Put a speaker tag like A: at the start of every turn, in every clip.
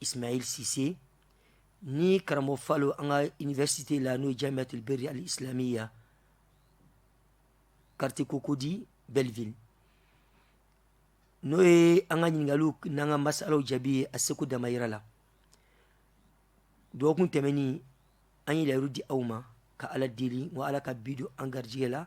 A: Ismail Cisse ni karamɔgɔ Falo an ka université la n'o ye Jamiyatul Biri al Islamiya quartier Cocody Belleville n'o ye an ka ɲininkaliw n'an ka masalaw jaabi ye a seko damayira la dɔgɔkun tɛmɛnin an ye layiru di aw ma ka Ala deli wa Ala ka bi don an garijigɛ la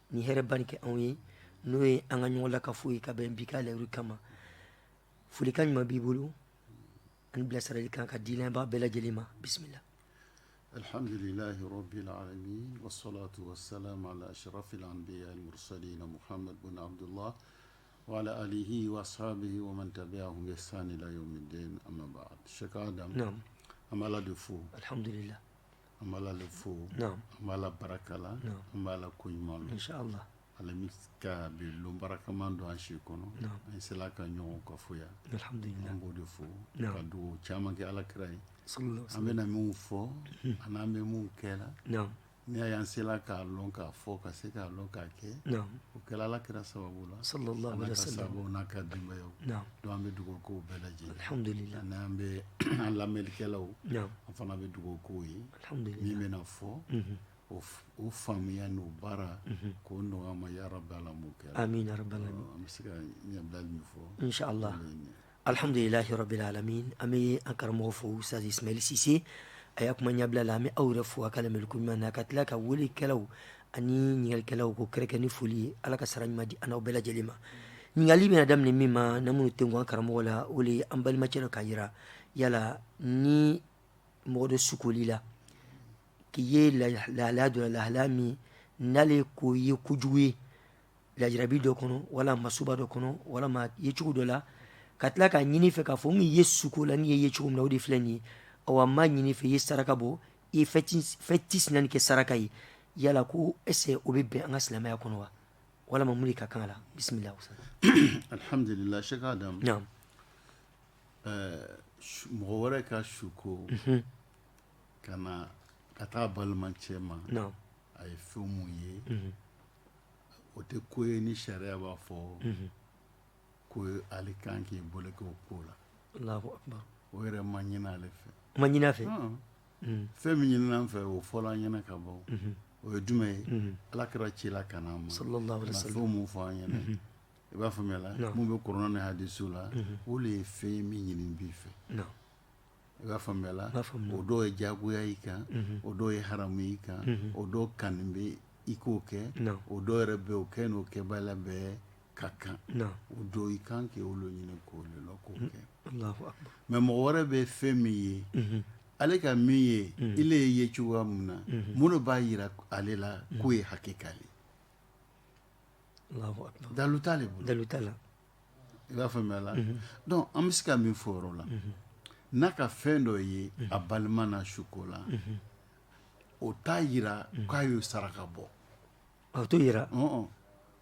A: Ni hɛrɛɛrɛbari kɛ anw ye n'o ye an ka ɲɔgɔn la ka foyi ye ka bɛn bi ka layiuru kama folikan ɲuman b'i bolo an bilasirali kan ka di b'a bɛɛ lajɛlen ma bisimila
B: alihamdulila wala aliyi wasa tabiya tun bɛ san de la an se k' da an b'a
A: la de fo
B: alihamdulila
A: An b'Ala
B: le fo, naamu, an b'Ala
A: barika
B: la, naamu, an b'Ala
A: koɲuman lɔn,
B: insaalahu,
A: Ala
B: min ka bi lon barikama don an si kɔnɔ, naamu, an sela ka
A: ɲɔgɔn
B: kafo yan, alihamudulila, an b'o de
A: fo,
B: naamu, ka dugawu caman kɛ Ala kira ye, salalahu alayihi wasalam, an
A: bɛna minnu
B: fɔ ani an bɛ minnu kɛ la, naamu, n'i y'a
A: ye an
B: sela k'a lɔn k'a fɔ ka se k'a lɔn k'a kɛ naamu, o kɛla
A: Ala
B: kira sababu la, salalahu alayihi wasalam, sababu
A: n'a ka denbayaw,
B: naamu, Don an bɛ
A: dugawu
B: k'o bɛɛ lajɛ n'an bɛ an lamɛnlikɛlaw an fana bɛ
A: dugawu
B: k'o ye min bɛna fɔ o faamuya n'o baarako nɔgɔya an ma ya rabal alamina
A: an bɛ se ka
B: ɲɛbila min fɔ insaala
A: alihamdulilahi rabil alamina an bɛ an karamɔgɔ fo Ustaz Ismail Cisse a ya kuma ɲɛbila la an bɛ aw yɛrɛ fo a ka lamɛnli koɲuman na ka tila ka weelekɛlaw ani ɲininkalikɛlaw k'o kɛrɛnkɛrɛn ni foli ye ala ka sara ɲuman di an n'aw bɛɛ lajɛlen ma ɲininkali bɛna daminɛ min ma na minnu tɛ gan karamɔgɔ la o ye an balimacɛ dɔ k'a yira yala ni mɔgɔ dɔ sukoli la k'i ye lahalaya dɔ lahalaya min n'ale k'o ye kojugu ye lajarabi dɔ kɔnɔ wala masiba dɔ kɔnɔ walama a ye cogo dɔ la ka tila k'a ɲini i fɛ k'a fɔ n k'i ye suko la n y'i ye cogo min na o de filɛ nin ye awa n b'a ɲini i fɛ i ye saraka bɔ i ye fɛn tisinani kɛ saraka ye yala ko est-ce o bɛ bɛn an ka silamɛya kɔnɔ wa walama mun de ka kan a la bisimila alihamdulila
B: Sheikh Adam mɔgɔ wɛrɛ ka suko ka na ka taa balimacɛ ma a ye
A: fɛn
B: mun ye o tɛ ko ye ni sariya b'a fɔ ko ale kan k'i bolo kɛ o ko
A: la o yɛrɛ ma ɲini
B: ale fɛ ma ɲini a fɛ
A: mm. fɛn
B: min ɲinina an fɛ o fɔla an ɲɛna ka ban mm-hmm. o ye jumɛn ye mm-hmm. ala kira cila ka n'an ma fɛn
A: mun fɔ an
B: ɲɛna mm-hmm. i b'a faamuya la mun bɛ kuranɛ ni hadisu la o le ye fɛn ye min ɲinin b'i fɛ
A: i
B: b'a faamuya la o dɔw
A: ye jagoya
B: i kan o dɔw ye haramu i kan o dɔw kanu bɛ i k'o kɛ o dɔw yɛrɛ bɛ
A: o kɛ
B: n'o kɛbaliya bɛɛ ka kan o dɔw i
A: kan
B: k'olu ɲini k'o lɔn k'o kɛ
A: mɛ mɔgɔ wɛrɛ
B: bɛ fɛn min ye ale ka min ye ile ye ye cogoya min na mun le b'a yira ale la k'o ye hakika
A: ye dalu t'ale bolo dalu
B: t'a la
A: i
B: b'a faamuya la donc an bɛ se ka min fɔ o yɔrɔ la n'a ka fɛn dɔ ye a balima na suko la o t'a yira k'a y'o saraka bɔ o t'o yira
A: ɔn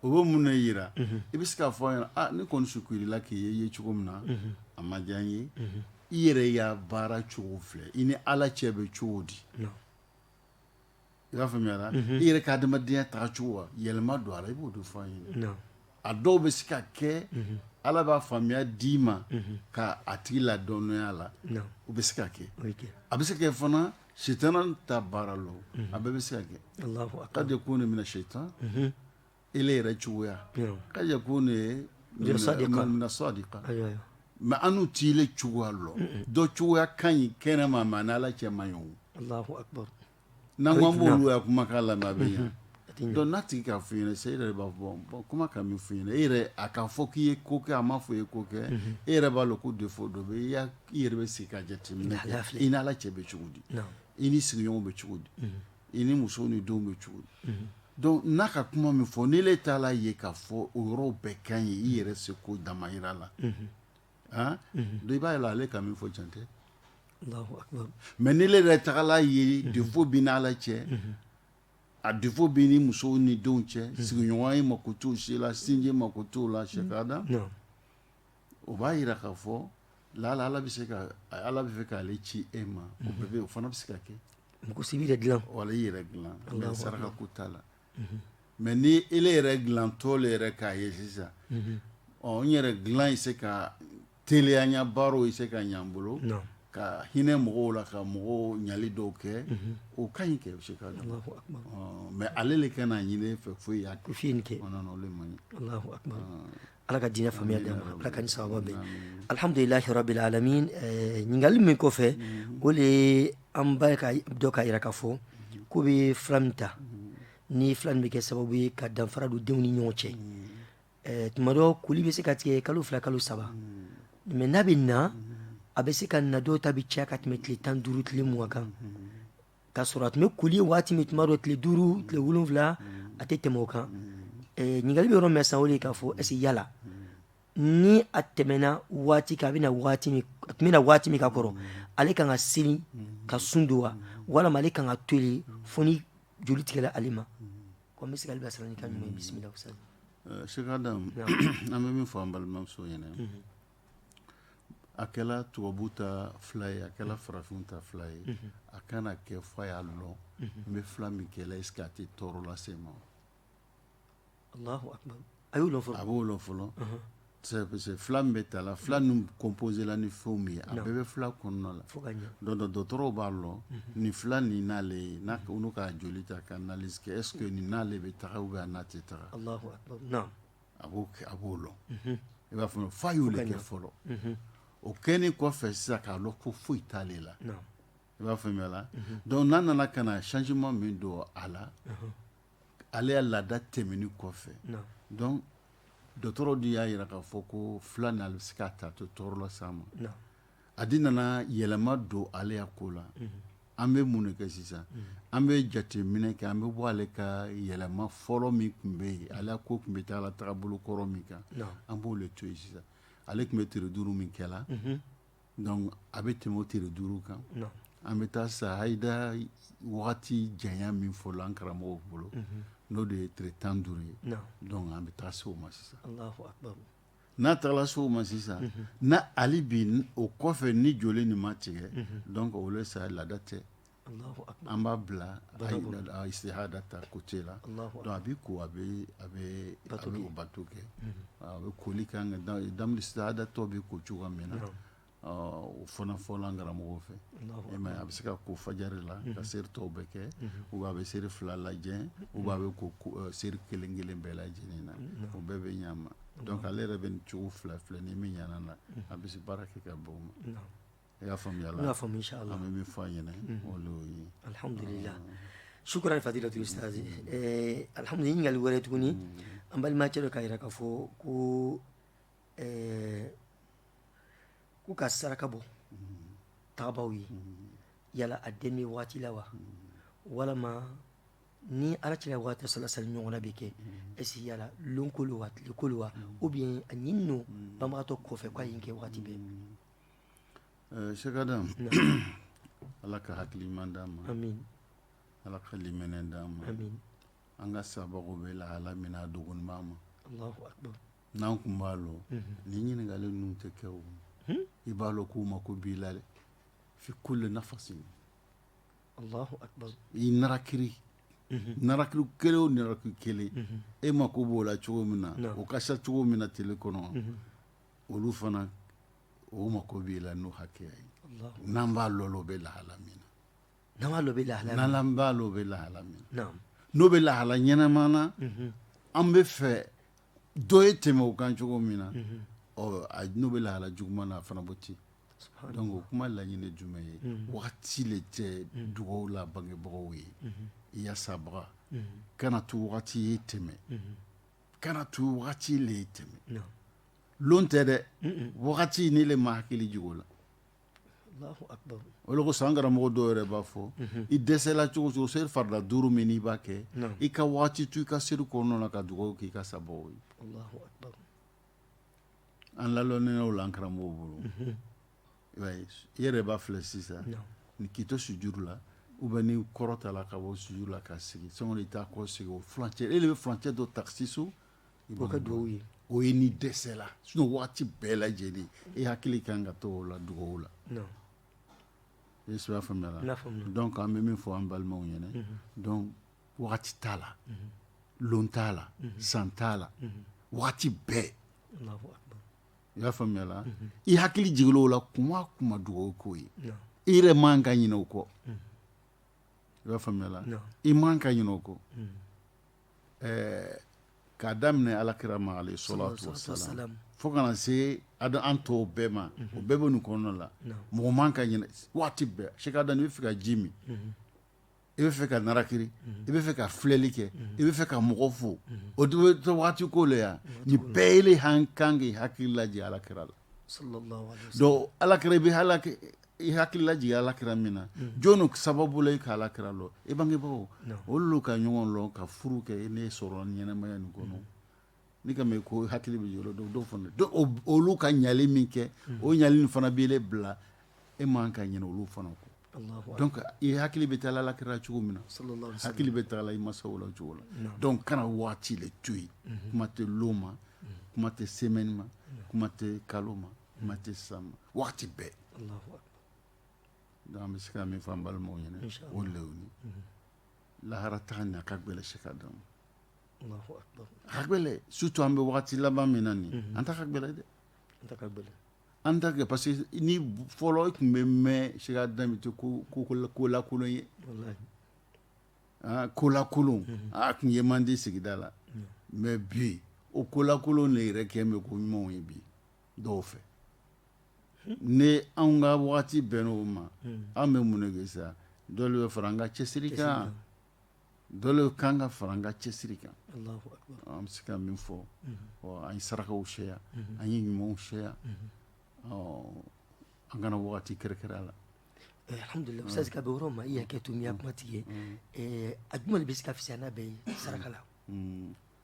A: o
B: bɛ mun de yira i bɛ se k'a fɔ a ɲɛna ah ne kɔni sukurila k'i ye ye cogo min na a ma diya n ye i yɛrɛ ya baara cogo filɛ i ni ala cɛ bɛ cogo di naam i b'a faamuya i yɛrɛ ka adamadenya taga cogo wa yɛlɛma don a la i b'o de fɔ a ye a dɔw
A: bɛ se
B: ka kɛ ala b'a faamuya d'i ma ka a tigi
A: ladɔnniya
B: a la
A: o
B: bɛ se ka kɛ a
A: bɛ se ka
B: kɛ fana shaitan ta baara lo a bɛɛ bɛ se ka kɛ qad yakunu
A: min ash-shaytan
B: e yɛrɛ cogoya qad yakunu min as-sadiqa
A: mɛ anu t'ile
B: cogoya lɔn dɔ cogoya ka ɲi kɛnɛ ma mɛ a n' ala cɛ man ɲi
A: n'an ko
B: an b'o ya kumakan lamɛn a bɛ ɲa donc n'a tigi k'a fɔ i ɲɛna sisan e yɛrɛ b'a fɔ kuma ka min fɔ i ɲɛna e yɛrɛ a k'a fɔ k'i ye ko kɛ a m'a fɔ i ye ko kɛ e yɛrɛ b'a lɔn ko défaut dɔ bɛ i i yɛrɛ bɛ sigi ka jateminɛ kɛ i ni ala cɛ bɛ cogo di i ni sigiɲɔgɔn bɛ cogo di i ni muso ni denw bɛ cogo di donc n'a ka kuma min fɔ ni ile taala a ye k'a fɔ o yɔrɔ bɛɛ ka ɲi i yɛrɛ seko damayira la aa i b'a ye la ale ka min fɔ jantɛ
A: mɛ ni ile
B: yɛrɛ tagala a ye défaut b'i n' ala cɛ a défaut b'i ni muso ni denw cɛ sigiɲɔgɔnya i mako t'o si la sinji mako t'o la sɛda o b'a yira k'a fɔ laala ala b'a fɛ k'ale ci e ma o fana bɛ se ka kɛ mɔgɔ si b'i
A: dilan wala i yɛrɛ
B: dilan mɛ saraka ko t'a la mɛ ni e yɛrɛ dilantɔ le yɛrɛ k'a ye sisan ɔ n yɛrɛ dilan ye se ka teliya n ya baaraw ye se ka ɲɛ n bolo ka hinɛ mɔgɔw la ka mɔgɔw ɲali dɔw kɛ o ka ɲi kɛ bɛ se ka mɛ ale de ka n'a ɲinin i fɛ fo i y'a kɛ fo i ye nin kɛ
A: o le man ɲi ala ka diinɛ faamuya d'an ma ala k'an ni sawaba bɛn alihamdulilahi rabili alamina ɲininkali min kɔfɛ o de ye an ba ka dɔ k'a yira k'a fɔ k'o bɛ fila min ta ni fila min bɛ kɛ sababu ye ka danfara don denw ni ɲɔgɔn cɛ tuma dɔ koli bɛ se ka tigɛ kalo fila kalo saba mɛ n'a bɛ na a bɛ se ka na dɔw ta bɛ caya ka tɛmɛ tile tan duuru tile mugan kan k'a sɔrɔ a tun bɛ koli ye waati min tuma dɔ tile duuru tile wolonwula a tɛ tɛmɛ o kan ɲininkali bɛ yɔrɔ min sisan o de ye k'a fɔ est-ce que yala ni a tɛmɛna waati kan a tun bɛ na waati min ka kɔrɔ ale kan ka seli ka sun don wa walima ale kan k'a to yen fo ni joli tigɛla ale ma ko n bɛ se ka ale bilasira ni kan ɲuman ye bisimila ustaz
B: Sheikh Adam an bɛ min fɔ an balimamuso ɲɛna a kɛla tubabu ta fila ye a kɛla farafin ta fila ye a kana kɛ f'a y'a lɔn n bɛ fila min kɛla est-ce que a tɛ tɔɔrɔ lase ma
A: a y'o lɔn fɔlɔ a b'o lɔn fɔlɔ
B: parce que fila min bɛ ta la fila ninnu composé la ni fɛn min ye a bɛɛ bɛ fila kɔnɔna la donc dɔgɔtɔrɔw b'a lɔn nin fila ni n'ale ye n'u ka joli ta ka analyse kɛ est-ce que nin n'ale bɛ taa ou bien n'a tɛ ta
A: akbar
B: a b'o lɔn i b'a fɔ f'a y'o le kɛ fɔlɔ o kɛnin kɔfɛ sisan k'a lɔn ko foyi t'ale la i b'a faamu la donc n'a nana ka na changement min don a la ale ya laada tɛmɛnin kɔfɛ donc dɔgɔtɔrɔ de y'a yira k'a fɔ ko fila nin ale bɛ se k'a ta t'o tɔɔrɔ las'a ma a di nana yɛlɛma don ale ya ko la an bɛ mun ne kɛ sisan an bɛ jateminɛ kɛ an bɛ bɔ ale ka yɛlɛma fɔlɔ min tun bɛ yen ale ko tun bɛ taa la tagabolo kɔrɔ min kan an b'o le to yen sisan ale tun bɛ tere duuru min kɛ la donc a bɛ tɛmɛ o tere duuru kan an bɛ taa sa hayida wagati janya min fɔla an karamɔgɔw bolo n'o de ye tere tan duuru ye donc an bɛ taa se o ma sisan n'a tagala se o ma sisan n' ali bi o kɔfɛ ni joli nin ma tigɛ donc o le sa laada tɛ an b'a bila istihada ta côté la donc a bɛ ko a bɛ o bato kɛ a bɛ koli ka kan ka damul istihada tɔ bɛ ko cogoya min na o fana fɔla an karamɔgɔw fɛ a bɛ se ka ko fajari la ka seri tɔw bɛɛ kɛ ou bien a bɛ seri fila lajɛ ou bien a bɛ ko seri kelen kelen bɛɛ lajɛ lajɛlen na o bɛɛ bɛ ɲɛ a ma donc ale yɛrɛ bɛ nin cogo fila filɛ ni min ɲɛna a bɛ se baara kɛ ka bɔ o ma i y'a faamuya la i y'a faamuya la an bɛ min fɔ a ɲɛna o le y'o ye
A: alhamdulillah shukran fadilatul ustaz alhamdulillah ɲininkali wɛrɛ tuguni an balimacɛ dɔ k'a yira k'a fɔ ko ɛɛ ko ka saraka bɔ tagabaaw ye yala a den bɛ waati la wa walama ni ala cɛla waati salasali ɲɔgɔnna bɛ kɛ est-ce que yala lonko lo wa tiliko lo wa ou bien a ɲininin lo banbagatɔ kɔfɛ ko a ye kɛ waati bɛɛ eh, Sheikh
B: Adam ala ka hakili ɲuman d'an ma amin
A: ala ka
B: limaniya d'an ma amin an
A: ka
B: sababu bɛ lahala min na a dogonima ma allahu akbar
A: N'an kun
B: b'a lɔn ni ɲininkali ninnu tɛ kɛ wo i b'a lɔn k'u mako b'i la dɛ fi kulli nafasin i
A: narakiri
B: narakiri kelen o narakiri kelen e mako b'o la cogo min na o ka sa cogo min na tele kɔnɔ olu fana o mako b'i la n'o hakɛya ye n'an b'a lɔn o bɛ lahala min na N'an
A: b'a lɔn o bɛ lahala min na, n'Ala b'a lɔn o
B: bɛ lahala min na, naamu, n'o
A: bɛ
B: lahala ɲɛnama na, unhun, an bɛ fɛ dɔ ye tɛmɛ o kan cogo min na, unhun, ɔ n'o bɛ lahala juguman na a fana b'o ten, subahaana layi, donc o kuma laɲini jumɛn ye, unhun, wagati le tɛ dugawu la bangebagaw ye, unhun, i ya sabaga, unhun, kana to wagati ye tɛmɛ, unhun, kana to wagati le ye tɛmɛ, naamu, lon tɛ dɛ, un un, wagati ni ile ma hakili jigin o la
A: o le kosɔn an
B: karamɔgɔ dɔw yɛrɛ b'a fɔ i dɛsɛla cogo o cogo seri farida duuru min n'i b'a kɛ i ka waati to i ka seri kɔnɔna na ka dugawu k'i ka sababu ye an la lɔnninaw la an karamɔgɔw bolo i yɛrɛ b'a filɛ sisan n'i k'i to sujuru la ou bien n'i kɔrɔtala ka bɔ sujuru la ka sigi sani i taa kɔsegi o cɛ e le bɛ furancɛ dɔ taksisu Kɛ
A: dugawu ye o ye n'i
B: dɛsɛla sinon waati bɛɛ lajɛlen e hakili kan ka to o la dugawu la i y'a faamuya la donc an bɛ min fɔ an balimaw ɲɛna donc waati t'a la lon t'a la san t'a la waati bɛɛ i y'a faamuya la i hakili jigila o la kuma o kuma dugawu k'o ye i yɛrɛ man ka ɲina o kɔ i b'a faamuya i man ka ɲina o kɔ ɛɛ k'a daminɛ Ala kira ma alayhi salatu wasalam fo kana se an tɔw bɛɛ ma o bɛɛ bɛ nin kɔnɔna la mɔgɔ man ka ɲinɛ waati bɛɛ Sheikh Adam i bɛ fɛ ka ji min i bɛ fɛ ka narakiri i bɛ fɛ ka filɛli kɛ i bɛ fɛ ka mɔgɔ fo o waati ko le yan nin bɛɛ la an kan k'i hakili lajigin Ala kira la Ala kira bɛ i hakili lajigin ala kira min na mm. jɔnni sababu la i ka ala kira lɔn i bangebagaw olu ka ɲɔgɔn lɔn ka furu kɛ ne sɔrɔ ɲɛnamaya nin kɔnɔ mm. n'i ka mɛn ko hakili bɛ yɔrɔ dɔw dɔw fana olu ka ɲali min kɛ mm. o ɲali nin fana bɛ ne bila e man ka ɲinɛ olu fana kɔ donc i hakili bɛ taa ala kira cogo min na hakili bɛ taa i masaw la cogo la donc kana waati le to yen mhm. kuma tɛ lon ma mhm. kuma tɛ semaine ma kuma tɛ kalo ma kuma tɛ sisan ma waati bɛɛ an bɛ se ka min fɔ an balimaw ɲɛna o le ye lahara taa nin a ka gɛlɛn Cheikh Adam a ka gɛlɛn surtout an bɛ waati laban min na nin an ta ka gɛlɛn dɛ an ta kɛ parce que ni fɔlɔ i tun bɛ mɛn Cheikh Adam to kolakolon ye kolakolon a tun ye man di sigida la mais bi o kolakolon le yɛrɛ kɛ bɛ ko ɲumanw ye bi dɔw fɛ ni anw ka waati bɛnn'o ma an bɛ mun le kɛ sa dɔ le bɛ fara an ka cɛsiri kan dɔ le kan ka fara an ka cɛsiri kan an bɛ se ka min fɔ an ye sarakaw caya an ye ɲumanw caya an kana waati kɛrɛnkɛrɛn la alihamdulilahi
A: ustaz ka yɔrɔ ma i hakɛ to n y'a kuma tigɛ a jumɛn bɛ se ka fisaya n'a bɛɛ ye saraka la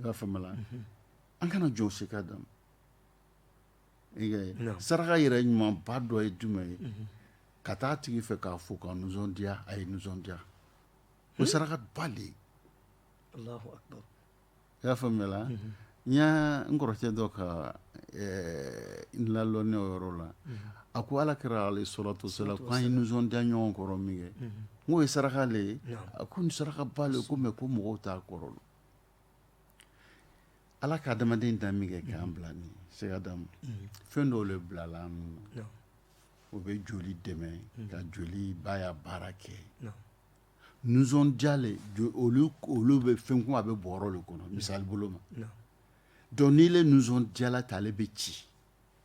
B: i y'a faamuya la an kana jɔn Cheikh Adam i y'a ye Naam. saraka yɛrɛ ɲumanba dɔ ye jumɛn ye ka taa a tigi fɛ k'a fo ka nisɔndiya a ye nisɔndiya o saraka ba le ye Allahu akbar. i y'a faamuya la n y'a n kɔrɔkɛ dɔ ka eh, n lalɔnniya o yɔrɔ la a ko ala kira alayhi salatu wasalam ko an ye nisɔndiya ɲɔgɔn kɔrɔ min kɛ k'o ye saraka le ye a ko nin saraka ba le ko mais ko mɔgɔw t'a kɔrɔ lɔn ala ka adamaden dan min kɛ k'an bila nin Cheikh Adamu fɛn dɔw le bilala an na o bɛ joli dɛmɛ ka joli b'a ya baara kɛ nisɔndiya le olu olu bɛ fɛn komi a bɛ bɔrɔ le kɔnɔ misali bolo ma donc n'i le nisɔndiyala ta ale bɛ ci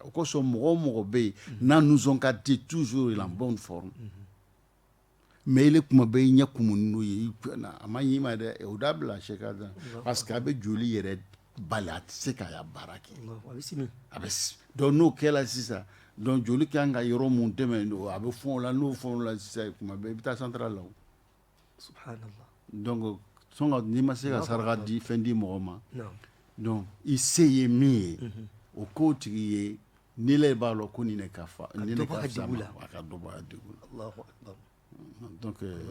B: o kosɔn mɔgɔ o mɔgɔ bɛ yen n'a nisɔn ka di toujours il est en bonne forme mais i le kuma bɛɛ i ɲɛ kumunnen ye a man ɲi i ma dɛ o dabila Cheikh Adam parce que a bɛ joli yɛrɛ bali a tɛ se k'a ya baara kɛ a bɛ donc n'o kɛla sisan donc joli ka kan ka yɔrɔ minnu dɛmɛ donc a bɛ fɔn o la n'o fɔn o la sisan kuma bɛɛ i bɛ taa central la N'i ma se ka saraka di fɛn di mɔgɔ ma i se ye min ye o ko tigi ye ni b'a la ko nin ka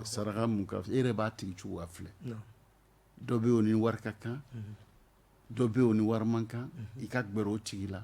B: saraka e yɛrɛ b'a tigi cogo filɛ dɔ bɛ ni wari ka kan dɔ bɛ ni wari man kan i ka g o tigi la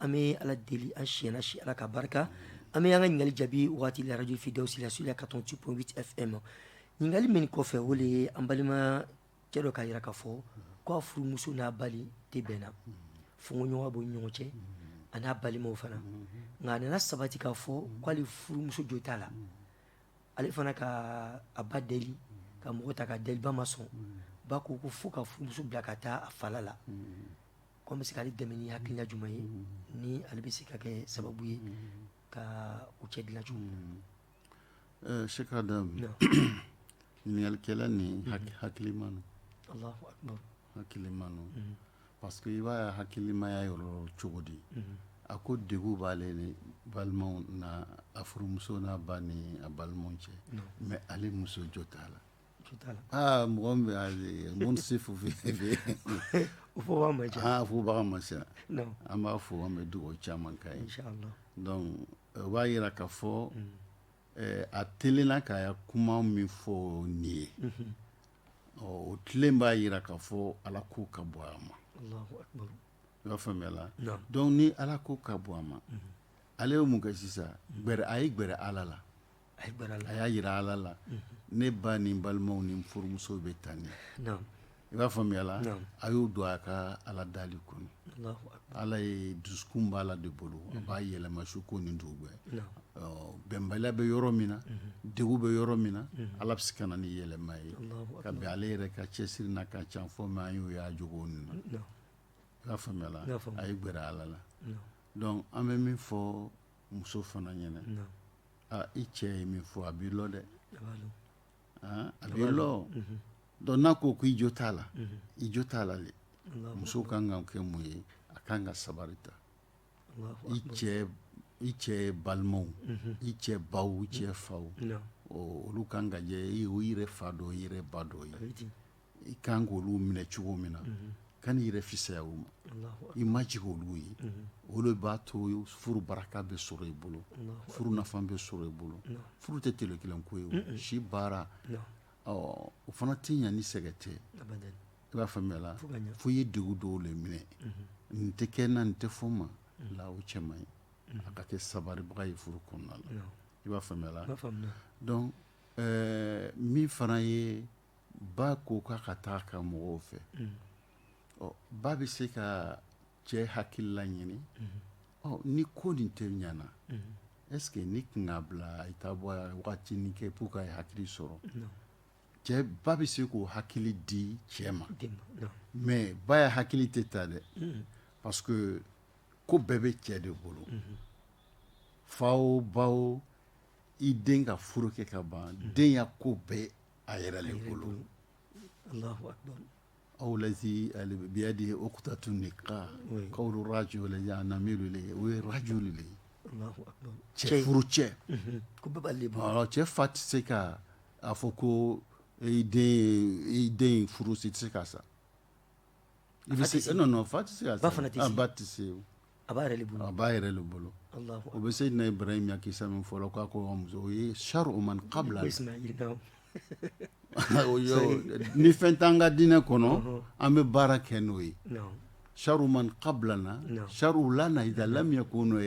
A: An bɛ ala deli an siyɛn si ala ka barika an bɛ an ka ɲininkali jaabi waati la radio Firdaus sur la quatre-vingt-huit point huit FM ɲininkali min kɔfɛ o de ye an balima cɛ dɔ k'a yira k'a fɔ k'a furumuso n'a ba le tɛ bɛn na fɔɲɔgɔnkɔ b'u ni ɲɔgɔn cɛ a n'a balimaw fana nka a nana sabati k'a fɔ k'ale furumuso jo t'a la ale fana ka a ba deli ka mɔgɔw ta k'a deli ba ma sɔn ba ko ko fo k'a furumuso bila ka taa a fala la ko an bɛ se k'ale dɛmɛ ni hakilila jumɛn ye ni ale bɛ se ka kɛ sababu ye ka u cɛ dilan cogo jumɛn Cheikh
B: Adam ɲininkalikɛla nin hakilima
A: no hakilima
B: no parce que i b'a ya hakilimaya yɔrɔ cogo di a ko degun b'ale ni balimaw na a furumuso n'a ba ni a balimaw cɛ mais ale muso jo t'a la aa mɔgɔ min bɛ yen minnu tɛ se fufu ye, o
A: fɔbaga man ca, aa fɔbaga man ca,
B: naamu, an b'a fɔ an bɛ dugawu caman k'a ye, inchallah,
A: donc
B: o b'a yira k'a fɔ ɛɛ a telenna k'a ya kuma min fɔ nin ye, unhun, ɔ o tilen b'a yira k'a fɔ Ala ko ka bon a ma, Alahu akibaru,
A: i b'a faamuya la,
B: naamu, donc ni Ala ko ka bon a ma, unhun, ale ye mun kɛ sisan, a ye gɛrɛ Ala la a y'a yira ala la ne ba ni balimaw ni furumuso bɛ tan ni i b'a faamuyala a y'o don a ka ala deli kɔnɔ ala ye dusukun b'ala de bolo a b'a yɛlɛma su ko ni dugu gbɛ bɛnbaliya bɛ yɔrɔ min na degun bɛ yɔrɔ min na ala bɛ se ka na ni yɛlɛma ye ka bɛn ale yɛrɛ ka cɛsiri n'a ka can fɔ mais an y'o y'a jogo nin na i b'a faamuyala a ye gɛrɛ ala la donc an bɛ min fɔ muso fana ɲɛna Aa i cɛ ye min fɔ a b'i lɔ dɛ a b'a lɔ aa a b'i lɔ unhun donc n'a ko ko i jo t'a la unhun i jo t'a la le Alahu akbar muso kaan ka kɛ mun ye a kaan ka sabari ta Alahu akbar i cɛ b i cɛ balimaw unhun i cɛ baw i cɛ faw naam ɔɔ olu kaan ka kɛ i yɛrɛ fa dɔ i yɛrɛ ba dɔ ye a be ten i ka kan k'olu minɛ cogo min na kan'i yɛrɛ fisaya o ma i majigin olu ye olu b'a to furu barika bɛ sɔrɔ i bolo furu nafa bɛ sɔrɔ i bolo furu tɛ tele kelen ko ye si baara ɔ o fana tɛ ɲɛ ni sɛgɛn tɛ i b'a faamuya fo i ye degun dɔw de minɛ nin tɛ kɛ n na nin tɛ fɔ n ma la o cɛ ye a ka kɛ sabalibaga ye furu kɔnɔna la i b'a faamuya donc min fana ye ba ko k'a ka taa a ka mɔgɔw fɛ ba bɛ se ka cɛ hakilila ɲini ni ko nin tɛ ɲana est-ce que n'i kun k'a bila i taa bɔ waatinin kɛ pour k'a ye hakili sɔrɔ cɛ ba bɛ se k'o hakili di cɛ ma mais ba ya hakili tɛ ta dɛ parce que ko bɛɛ bɛ cɛ de bolo fa o ba o i den ka furu kɛ ka ban den ya ko bɛɛ a yɛrɛ le bolo
A: aw
B: lazi biyadihi uqdatu nikah k'awj na mi o ye rajul de ye
A: cɛ
B: furu
A: cɛ cɛ fa tɛ se
B: ka a fɔ ko i den furu si tɛ se ka sa I bɛ se fa tɛ ba tɛ se a b'a yɛrɛ
A: bolo a b'a yɛrɛ de bolo
B: o bɛ se na Ibrahim ya kisa min fɔla k'a ko muso o ye sharu man qabla ni fɛn t'an ka diinɛ kɔnɔ an bɛ baara kɛ n'o ye sharu man qablana sharu lana idha lam yakunu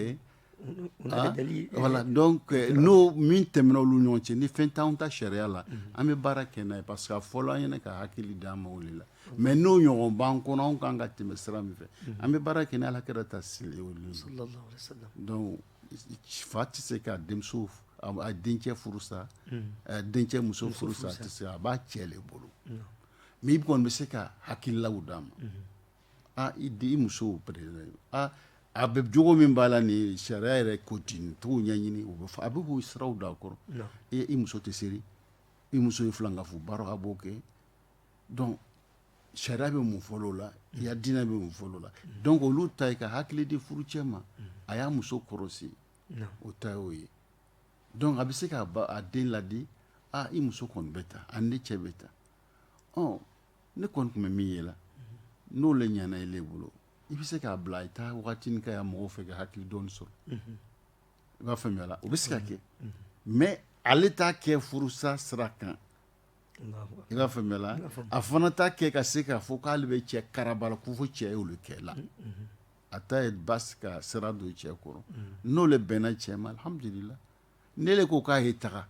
B: Voilà donc n'o min tɛmɛna olu ɲɔgɔn cɛ ni fɛn t'an ta sariya la an bɛ baara kɛ n'a ye parce que a fɔla an ɲɛna ka hakili d'an ma o la mais n'o ɲɔgɔn b'an kɔnɔ anw ka kan ka tɛmɛ sira min fɛ an bɛ baara kɛ ni Ala kira ta seli fa tɛ se ka denmuso dencɛ furu sa dencɛ muso furu sa tɛ se a b'a cɛ de bolo mais i kɔni bɛ se ka hakililaw d'a ma aa i di i muso p aa a bɛ jogo min b'a la ni sariya yɛrɛ ko ten t'o ɲɛɲini u bɛ fɔ a bɛ k'u siraw da a kɔrɔ ee i muso tɛ seli i muso in filankafo baara a b'o kɛ donc sariya bɛ mun fɔ la o la ya diinɛ bɛ mun fɔ la o la donc olu ta ye ka hakili di furucɛ ma a y'a muso kɔrɔsi o ta y'o ye donc a bɛ se k'a den ladi aa i muso kɔni bɛ tan ani ni cɛ bɛ tan ɔ ne kɔni tun bɛ min ye la n'o le ɲana i le bolo i bɛ se k'a bila i taa waatinin kɛ a ya mɔgɔw fɛ ka hakili dɔɔni sɔrɔ i b'a faamuya la o bɛ se ka kɛ mais ale t'a kɛ furusa sira kan i b'a faamuya la a fana t'a kɛ ka se k'a fɔ k'ale bɛ cɛ karaba la ko fo cɛ y'olu kɛ la a ta ye basi ka sira don cɛ kɔrɔ n'o le bɛnna cɛ ma alhamdulila ne de ko k'a ye taga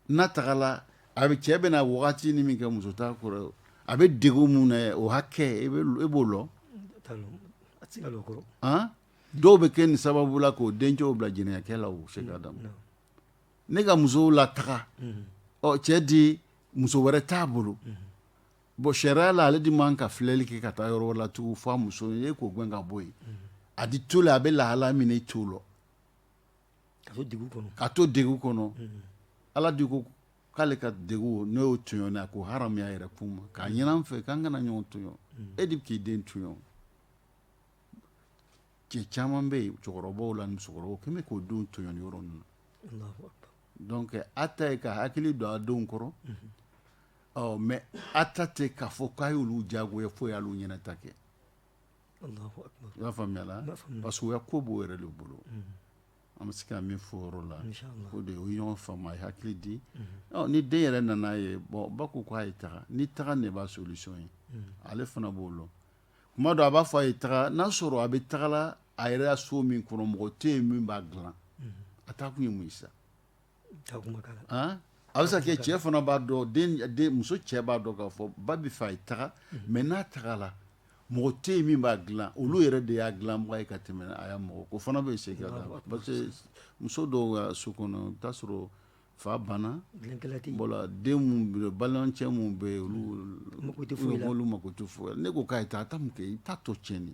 B: n'a tagala a bɛ cɛ bɛna wagati ni min kɛ muso t'a kɔrɔ a bɛ degun min na o hakɛ e b'o dɔn dɔw bɛ kɛ nin sababu la k'o dencɛw bila jɛnɛyakɛ la o se ka da ne ka musow la taga ɔ cɛ di muso wɛrɛ t'a bolo bon sariya la ale de man ka filɛli kɛ ka taa yɔrɔ wɛrɛ la tugun f'a muso ye k'o gɛn ka bɔ yen a di to la a bɛ lahala min i t'o lɔn ka to degun kɔnɔ, ka to degun kɔnɔ, unhun, Ala de ko k'ale ka degun n'o y'o tɔɲɔni a k'o haramuya a yɛrɛ kun ma k'a ɲini an fɛ k'an kana ɲɔgɔn tɔɲɔn mm. e de bɛ k'i den tɔɲɔn cɛ caman bɛ yen cɛkɔrɔbaw la ni musokɔrɔbaw k'u bɛ k'o denw tɔɲɔn nin yɔrɔ ninnu na donc a ta ye ka hakili don a denw kɔrɔ mm-hmm. ɔ mais a ta tɛ k'a fɔ k'a y'olu diyagoya fo y'olu ɲɛnata kɛ I b'a faamuya la parce que o ya ko b'o yɛrɛ de bolo an bɛ se ka min fɔ o yɔrɔ la o de o ye ɲɔgɔn faamu a ye hakili di ni den yɛrɛ nana a ye bon ba ko k'a ye taga ni taga de b'a solution ye ale fana b'o lɔn kuma dɔ a b'a fɔ a ye taga n'a sɔrɔ a bɛ tagala a yɛrɛ ya so min kɔnɔ mɔgɔ tɛ yen min b'a dilan a taa kun ye mun ye sa a bɛ se ka kɛ cɛ fana b'a dɔn muso cɛ b'a dɔn k'a fɔ ba b'a fɛ a ye taga mais n'a tagala mɔgɔ tɛ yen min b'a dilan olu yɛrɛ de y'a dilanbaga ye ka tɛmɛ a ya mɔgɔ kan o fana bɛ se parce que muso dɔw ka so kɔnɔ i bɛ taa sɔrɔ fa banna voilà balimacɛ minnu bɛ yen olu mako tɛ foyi la ne ko k'a ye taa a taa mun kɛ i t'a tɔ tiɲɛni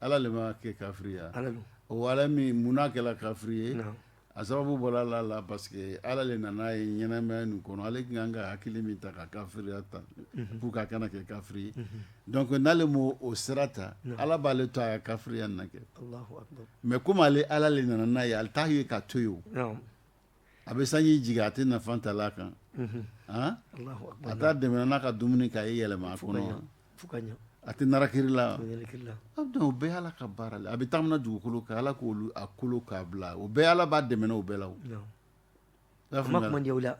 B: Ala de m'a kɛ kafiri ye wa? Ala don. O Ala min mun na kɛra kafiri ye? Naamu. A sababu bɔra Ala la parce que Ala de nana a ye ɲɛnamaya nin kɔnɔ, ale tun ka kan ka hakili min ta ka kafiriya ta pour que a kana kɛ kafiri ye donc n'ale m'o o sira ta, Ala b'ale to a ka kafiriya in na kɛ. Alahu akibaru. Mais comme ale Ala de nana n'a ye, ale t'a ye ka to yen o. Naamu. A bɛ sanji jigin a tɛ nafa ta la a kan a t'a dɛmɛ n'a ka dumuni k'a ye yɛlɛma a kɔnɔ a tɛ na kila donc o bɛɛ ala ka baara la a bɛ taamana dugukolo kan ala k'o kolo k'a bila o bɛɛ ala b'a dɛmɛ o bɛɛ la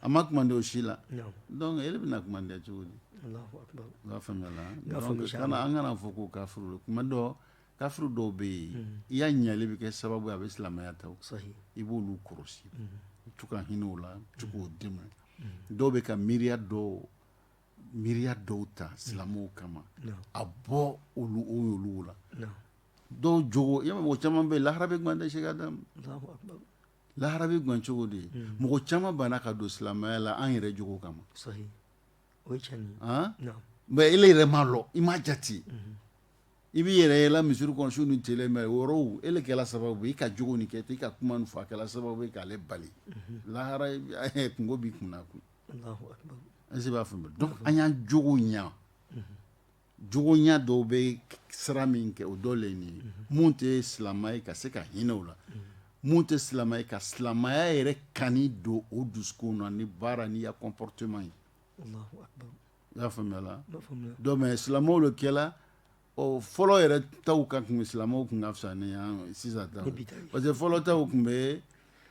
B: a ma kumandi o si la donc e bɛna kumandiya cogo di i b'a faamuya la an kana fɔ ko kafiri kuma dɔn kafiri dɔw bɛ yen i ya ɲali bɛ kɛ sababu a bɛ silamɛya ta i b'olu kɔlɔsi i to ka hinɛ o la to k'o dɛmɛ dɔw bɛ ka miiriya dɔw miiriya dɔw ta silamɛw kama a bɔ olu o olu la dɔw jogo e mɔgɔ caman bɛ yen lahara bɛ gan dɛ Sheikh Adamu lahara bɛ gan cogo di mɔgɔ caman banna ka don silamɛya la an yɛrɛ jogo kama o cɛ mɛ e yɛrɛ ma dɔn i ma jate i b'i yɛrɛ yɛlɛ misiri kɔnsiw ni tele mɛ yɔrɔ e kɛlɛ sababu i ka jugu ni kɛ i ka kuma fɔ a kɛlɛ sababu k'ale bali lahara kungo b'i kun kun b'a fɔ an y'an jugu ɲɛ jogo ɲa dɔw bɛ sira min kɛ o dɔ le ye nin ye mun tɛ silamɛ ye ka se ka hinɛ o la mun tɛ silamɛ ye ka silamɛya yɛrɛ kani don o dusukun na ni baara n'i ya comportement ye i y'a faamuya la donc mais silamɛw le kɛla ɔ fɔlɔ yɛrɛ taw ka kun silamɛw kun ka fisa ni an sisan taw parce que fɔlɔ taw kun bɛ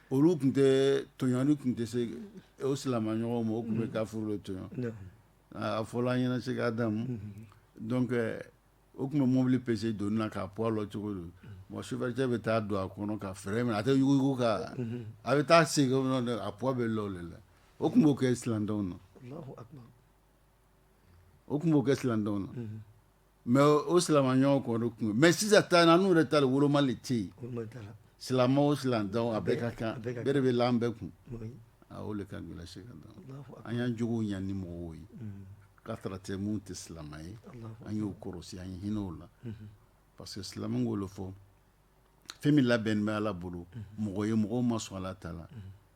B: olu kun tɛ tɔɲɔni kun tɛ se o silamɛɲɔgɔnw ma o kun bɛ kafuru le tɔɲɔ A fɔla an ɲɛna Sheikh Adamu donc o kun bɛ mobili pese doni na k'a poids lɔn cogo don bon sofɛrɛcɛ bɛ taa don a kɔnɔ ka frein minɛ a tɛ yuguyugu ka a bɛ taa segin a poids bɛ lɔ o le la o kun b'o kɛ silamɛdenw na o kun b'o kɛ silamɛdenw na mais o silamɛɲɔgɔn kɔni kun mais sisan ta n'an yɛrɛ ta le woloma le tɛ yen silamɛ o silamɛ a bɛɛ ka kan bɛɛ de bɛ la an bɛɛ kun o le ka gɛlɛn Sheikh Adamu an y'an jogo ɲa ni mɔgɔw ye ka tara tɛ mun tɛ silamɛ ye an y'o kɔrɔsi an ye hinɛ o la parce que silamɛ k'o le fɔ fɛn min labɛn bɛ ala bolo mɔgɔ ye mɔgɔ ma sɔn ala ta la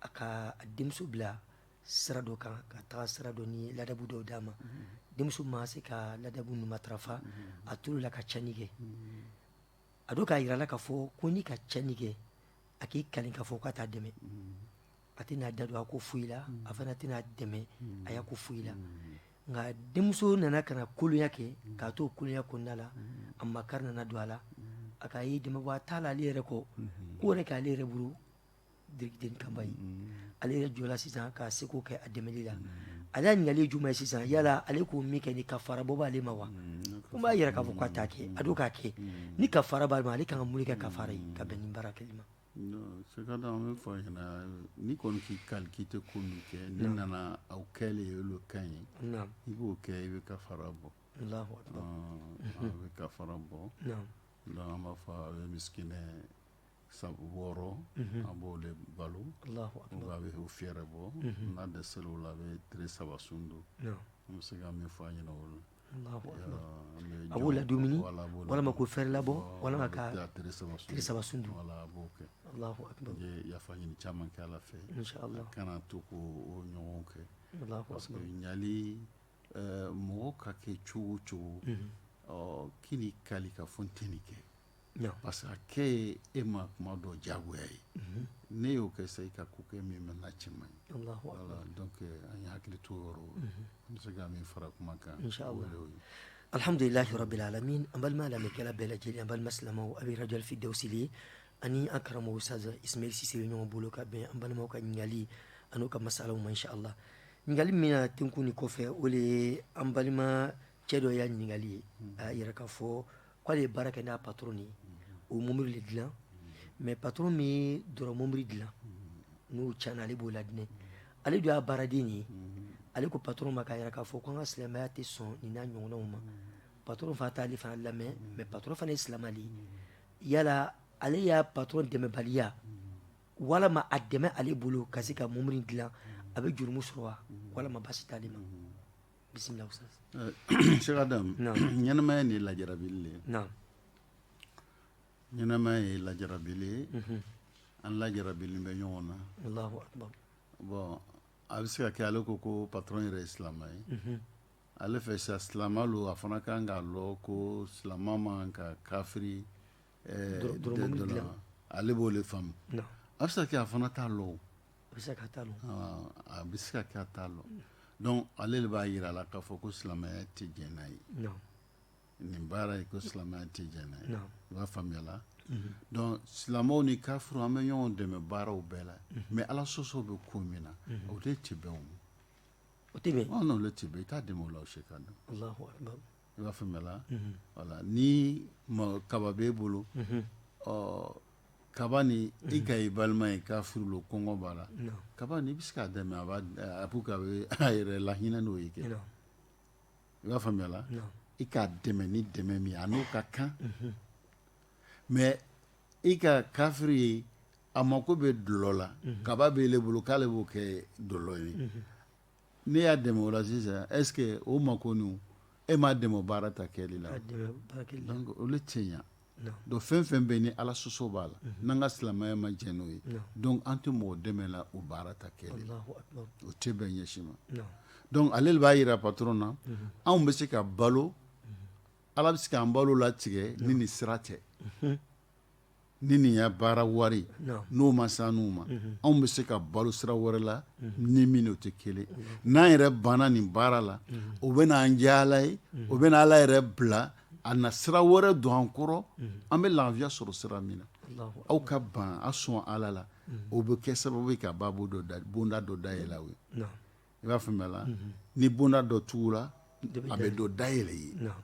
A: a ka denmuso bila sira dɔ kan ka taga sira dɔ ni ladabu dɔw d'a ma denmuso ma se ka ladabu ninnu matarafa a tola ka cɛnni kɛ a dun k'a jira a la k'a fɔ ko n'i ka cɛnni kɛ a k'i kali k'a fɔ k'a t'a dɛmɛ a tɛna a da don a ko foyi la a fana tɛna a dɛmɛ a ya ko foyi la nka denmuso nana ka na kolonya kɛ k'a to kolonya kɔnɔna la a makari nana don a la a k'a ye dɛmɛbaa t'a la ale yɛrɛ kɔ ko wɛrɛ k'ale yɛrɛ bolo den kama ye ale yɛrɛ jɔla sisan k'a seko kɛ a dɛmɛli la ale y'a ɲininkali ye jumɛn ye sisan yala ale ko min kɛ ni kafara bɔ b'ale ma wa ko b'a yira k'a fɔ k'a t'a kɛ a dun k'a kɛ ni kafara b'ale ma ale kan ka mun kɛ kafara ye ka bɛn ni baara kɛli ma Non, c'est que
B: an b'a fɔ a ɲɛna n'i kɔni k'i kali k'i tɛ ko min kɛ n'i nana a kɛlen ye olu kan ye naam i b'o kɛ i bɛ kafara bɔ allahu akbar Ɔn, a bɛ kafara bɔ naam donc an b'a fɔ a bɛ misikinɛ tan wɔɔrɔ a b'o le balo a bɛ o fɛɛrɛbɔ n'a dɛsɛra o la a bɛ tile saba sun don an bɛ se ka min fɔ a ɲɛna o
A: la a b'o ladumuni walima k'o fɛɛrɛ labɔ walima ka tile saba sun don a bɛ
B: yafa ɲini caman kɛ ala fɛ a kana to k'o ɲɔgɔn kɛ parce que ɲali mɔgɔ ka kɛ cogo cogo k'i n'i kali ka fɔ n tɛ nin kɛ parce que a kɛ ye e ma kuma dɔ diyagoya ye ne y'o kɛ sa i ka ko kɛ min bɛ na cɛ man ɲi donc an ye hakili to o yɔrɔ an bɛ se ka min fara kuma kan alihamdulilahi
A: rabbil alamin an balima lamɛnnikɛla bɛɛ lajɛlen an balima silamɛw aw bɛ radio Alfirdawusi le ani an karamɔgɔ ustaz Ismail Sise bɛ ɲɔgɔn bolo ka bɛn an balimaw ka ɲininkali an'u ka masalaw ma inshallah ɲininkali min na tugun nin kɔfɛ o le ye an balima cɛ dɔ y'a ɲininkali ye a y'a yira k'a fɔ k'ale ye baara kɛ n'a patron de ye o mobili de dilan mais patron min ye dɔrɔ mobili dilan n'o tiɲɛna ale b'o ladilan ale dun y'a baaraden de ye ale ko patron ma k'a yira k'a fɔ ko an ka silamɛya tɛ sɔn nin n'a ɲɔgɔnnaw ma patron fana t'ale fana lamɛn mais patron fana ye silamɛ de ye yala ale y'a patron dɛmɛbaliya walama a dɛmɛ ale bolo ka se ka mobili dilan a bɛ jurumu sɔrɔ wa walama baasi t'ale ma bisimila Ustaz, ɛɛ Sɛki
B: Adamu, naamu, ɲɛnamaya nin lajarabili le, naamu, ɲɛnamaya ye lajarabili ye, unhun, an lajarabilen bɛ ɲɔgɔn na, Alahu akibaru, bon a bɛ se ka kɛ ale ko ko patɔrɔn yɛrɛ ye
A: silamɛ
B: ye, unhun, ale fɛ sa silamɛ lo a fana ka kan k'a lɔn ko silamɛ man kan ka kafiri ale b'o de faamu a bɛ se ka kɛ a fana t'a lɔn a bɛ se
A: ka t'a lɔn a bɛ se ka
B: kɛ a t'a lɔn donc ale le b'a yira a la k'a fɔ ko silamɛya tɛ jɛn n'a ye nin baara ye ko silamɛya tɛ jɛn n'a ye i b'a faamuya la donc silamɛw ni kafiriw an bɛ ɲɔgɔn dɛmɛ baaraw bɛɛ la mais ala sɔsɔ bɛ ko min na o tɛ
A: bɛn o tɛ bɛn i t'a dɛmɛ
B: o la o se ka dɔn
A: i b'a
B: faamuyala voilà ni kaba b'e bolo ɔ kaba ni i ka i balima ye kafiri lo kɔngɔ b'a la kaba ni i bɛ se k'a dɛmɛ a b'a a b'u ka bɛ a yɛrɛ lahinɛ n'o ye kɛ i b'a faamuyala i k'a dɛmɛ ni dɛmɛ min ye a n'o ka kan mais i ka kafiri ye a mako bɛ dɔlɔ la kaba b'ele bolo k'ale b'o kɛ dɔlɔ ye Ne y'a dɛmɛ o la sisan est ce que o makoninw e m'a dɛmɛ o baara ta kɛli la wa? A dɛmɛ baara kɛli la. Donc olu tɛ ɲa. Non. Donc fɛn o fɛn bɛ yen ni Ala sɔsɔ b'a la. Unhun. N'an ka silamɛya ma jɛn n'o ye. Non. Donc an tɛ mɔgɔ dɛmɛ la o baara ta kɛli la. Alahu akibaru. O tɛ bɛn ɲɛ si ma. Non. Donc ale de b'a yira patron na. Unhun. Anw bɛ se ka balo. Ala bɛ se k'an balo latigɛ ni nin sira tɛ. Unhun. ni nin ya baara wari non n'o ma s'annu ma anw bɛ se ka balo sira wɛrɛ la ni min o tɛ kelen n'an yɛrɛ banna nin baara la o bɛ na an diya Ala ye o bɛ na Ala yɛrɛ bila a na sira wɛrɛ don an kɔrɔ an bɛ lafiya sɔrɔ sira min na Alahu aw ka ban a sɔn Ala la o bɛ kɛ sababu ye ka babo dɔ da bonda dɔ dayɛlɛ aw ye non i b'a faamuya la ni bonda dɔ tugula a bɛ dɔ dayɛlɛ i ye non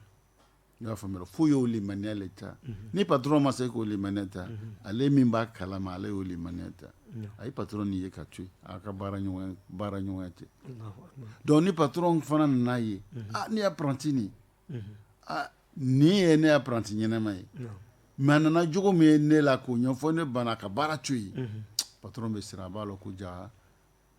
B: i y'a faamuya fo y'o limaniya le ta ni patron ma se k'o limaniya ta ale min b'a kalama ale y'o limaniya ta a ye patron nin ye ka to a ka baara baara ɲɔgɔnya tɛ donc ni patron fana nana ye aa ne ya apprenti nin nin ye ne ya apprenti ɲɛnama ye mais a nana jogo min ye ne la k'o ɲɛfɔ ne banna ka baara to yen patron bɛ siran a b'a lɔn ko ja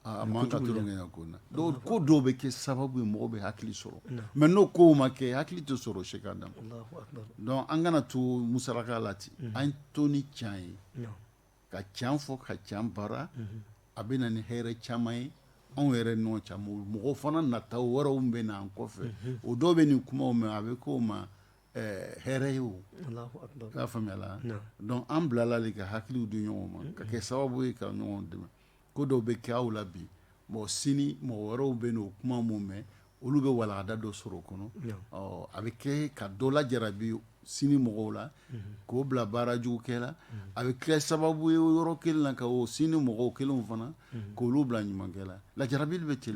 B: A man ka tulon kɛ ko na ko dɔw bɛ kɛ sababu ye mɔgɔ bɛ hakili sɔrɔ mais n'o ko ma kɛ hakili tɛ sɔrɔ Sheikh Adama donc an kana to musaraka la ten an to ni can ye ka can fɔ ka can baara a bɛ na ni hɛrɛ caman ye anw yɛrɛ ni ɲɔgɔn cɛ mɔgɔ fana nata wɛrɛw bɛ na an kɔfɛ o dɔw bɛ nin kuma mɛn a bɛ k'o ma hɛrɛ ye o y'a faamuyala donc an bilala de ka hakiliw di ɲɔgɔn ma ka kɛ sababu ye ka ɲɔgɔn dɛmɛ ko dɔw bɛ kɛ aw la bi mɔgɔ sini mɔgɔ wɛrɛw bɛ n'o kuma min mɛn olu bɛ walagada dɔ sɔrɔ o kɔnɔ a bɛ kɛ ka dɔ lajarabi sini mɔgɔw la k'o bila baara jugu kɛ la a bɛ kɛ sababu ye yɔrɔ kelen na ka o sini mɔgɔw kelenw fana k'olu bila ɲumankɛ la lajarabi bɛ ten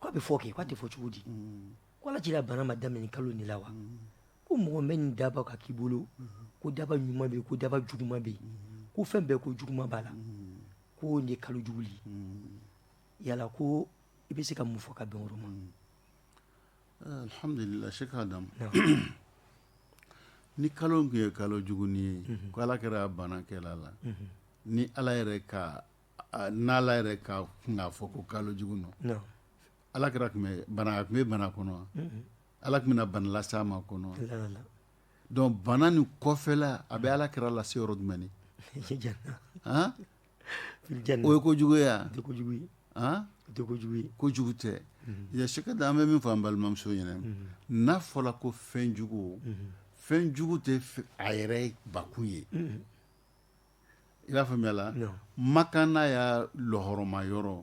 A: k'a bɛ fɔ kɛ k'a tɛ fɔ cogo di ko ala kira bana ma daminɛ kalo nin la wa ko mɔgɔ bɛ nin daba ka k'i bolo ko daba ɲuman bɛ yen ko daba juguman bɛ yen ko fɛn bɛɛ ko juguman b'a la ko nin ye kalo jugu ye yala ko i bɛ se ka mun fɔ ka bɛn o ma
B: alhamdulila Sheikh Adama ni kalo tun ye kalo jugu ye ko ala kira bana kɛl'a la ni ala yɛrɛ ka N' ala yɛrɛ ka kun fɔ ko kalo jugu nɔ ala kira tun bana tun bɛ bana kɔnɔ ala tun bɛna bana lase a ma kɔnɔ donc bana ni kɔfɛla a bɛ ala kira lase yɔrɔ jumɛn ni o ye ko jugu ye wa ko jugu tɛ Cheikh Adam an bɛ min fɔ an balimamuso ɲɛna n'a fɔla ko fɛnjugu fɛnjugu tɛ a yɛrɛ bakun ye i b'a faamuya la makan n'a ya lɔɔrɔma yɔrɔ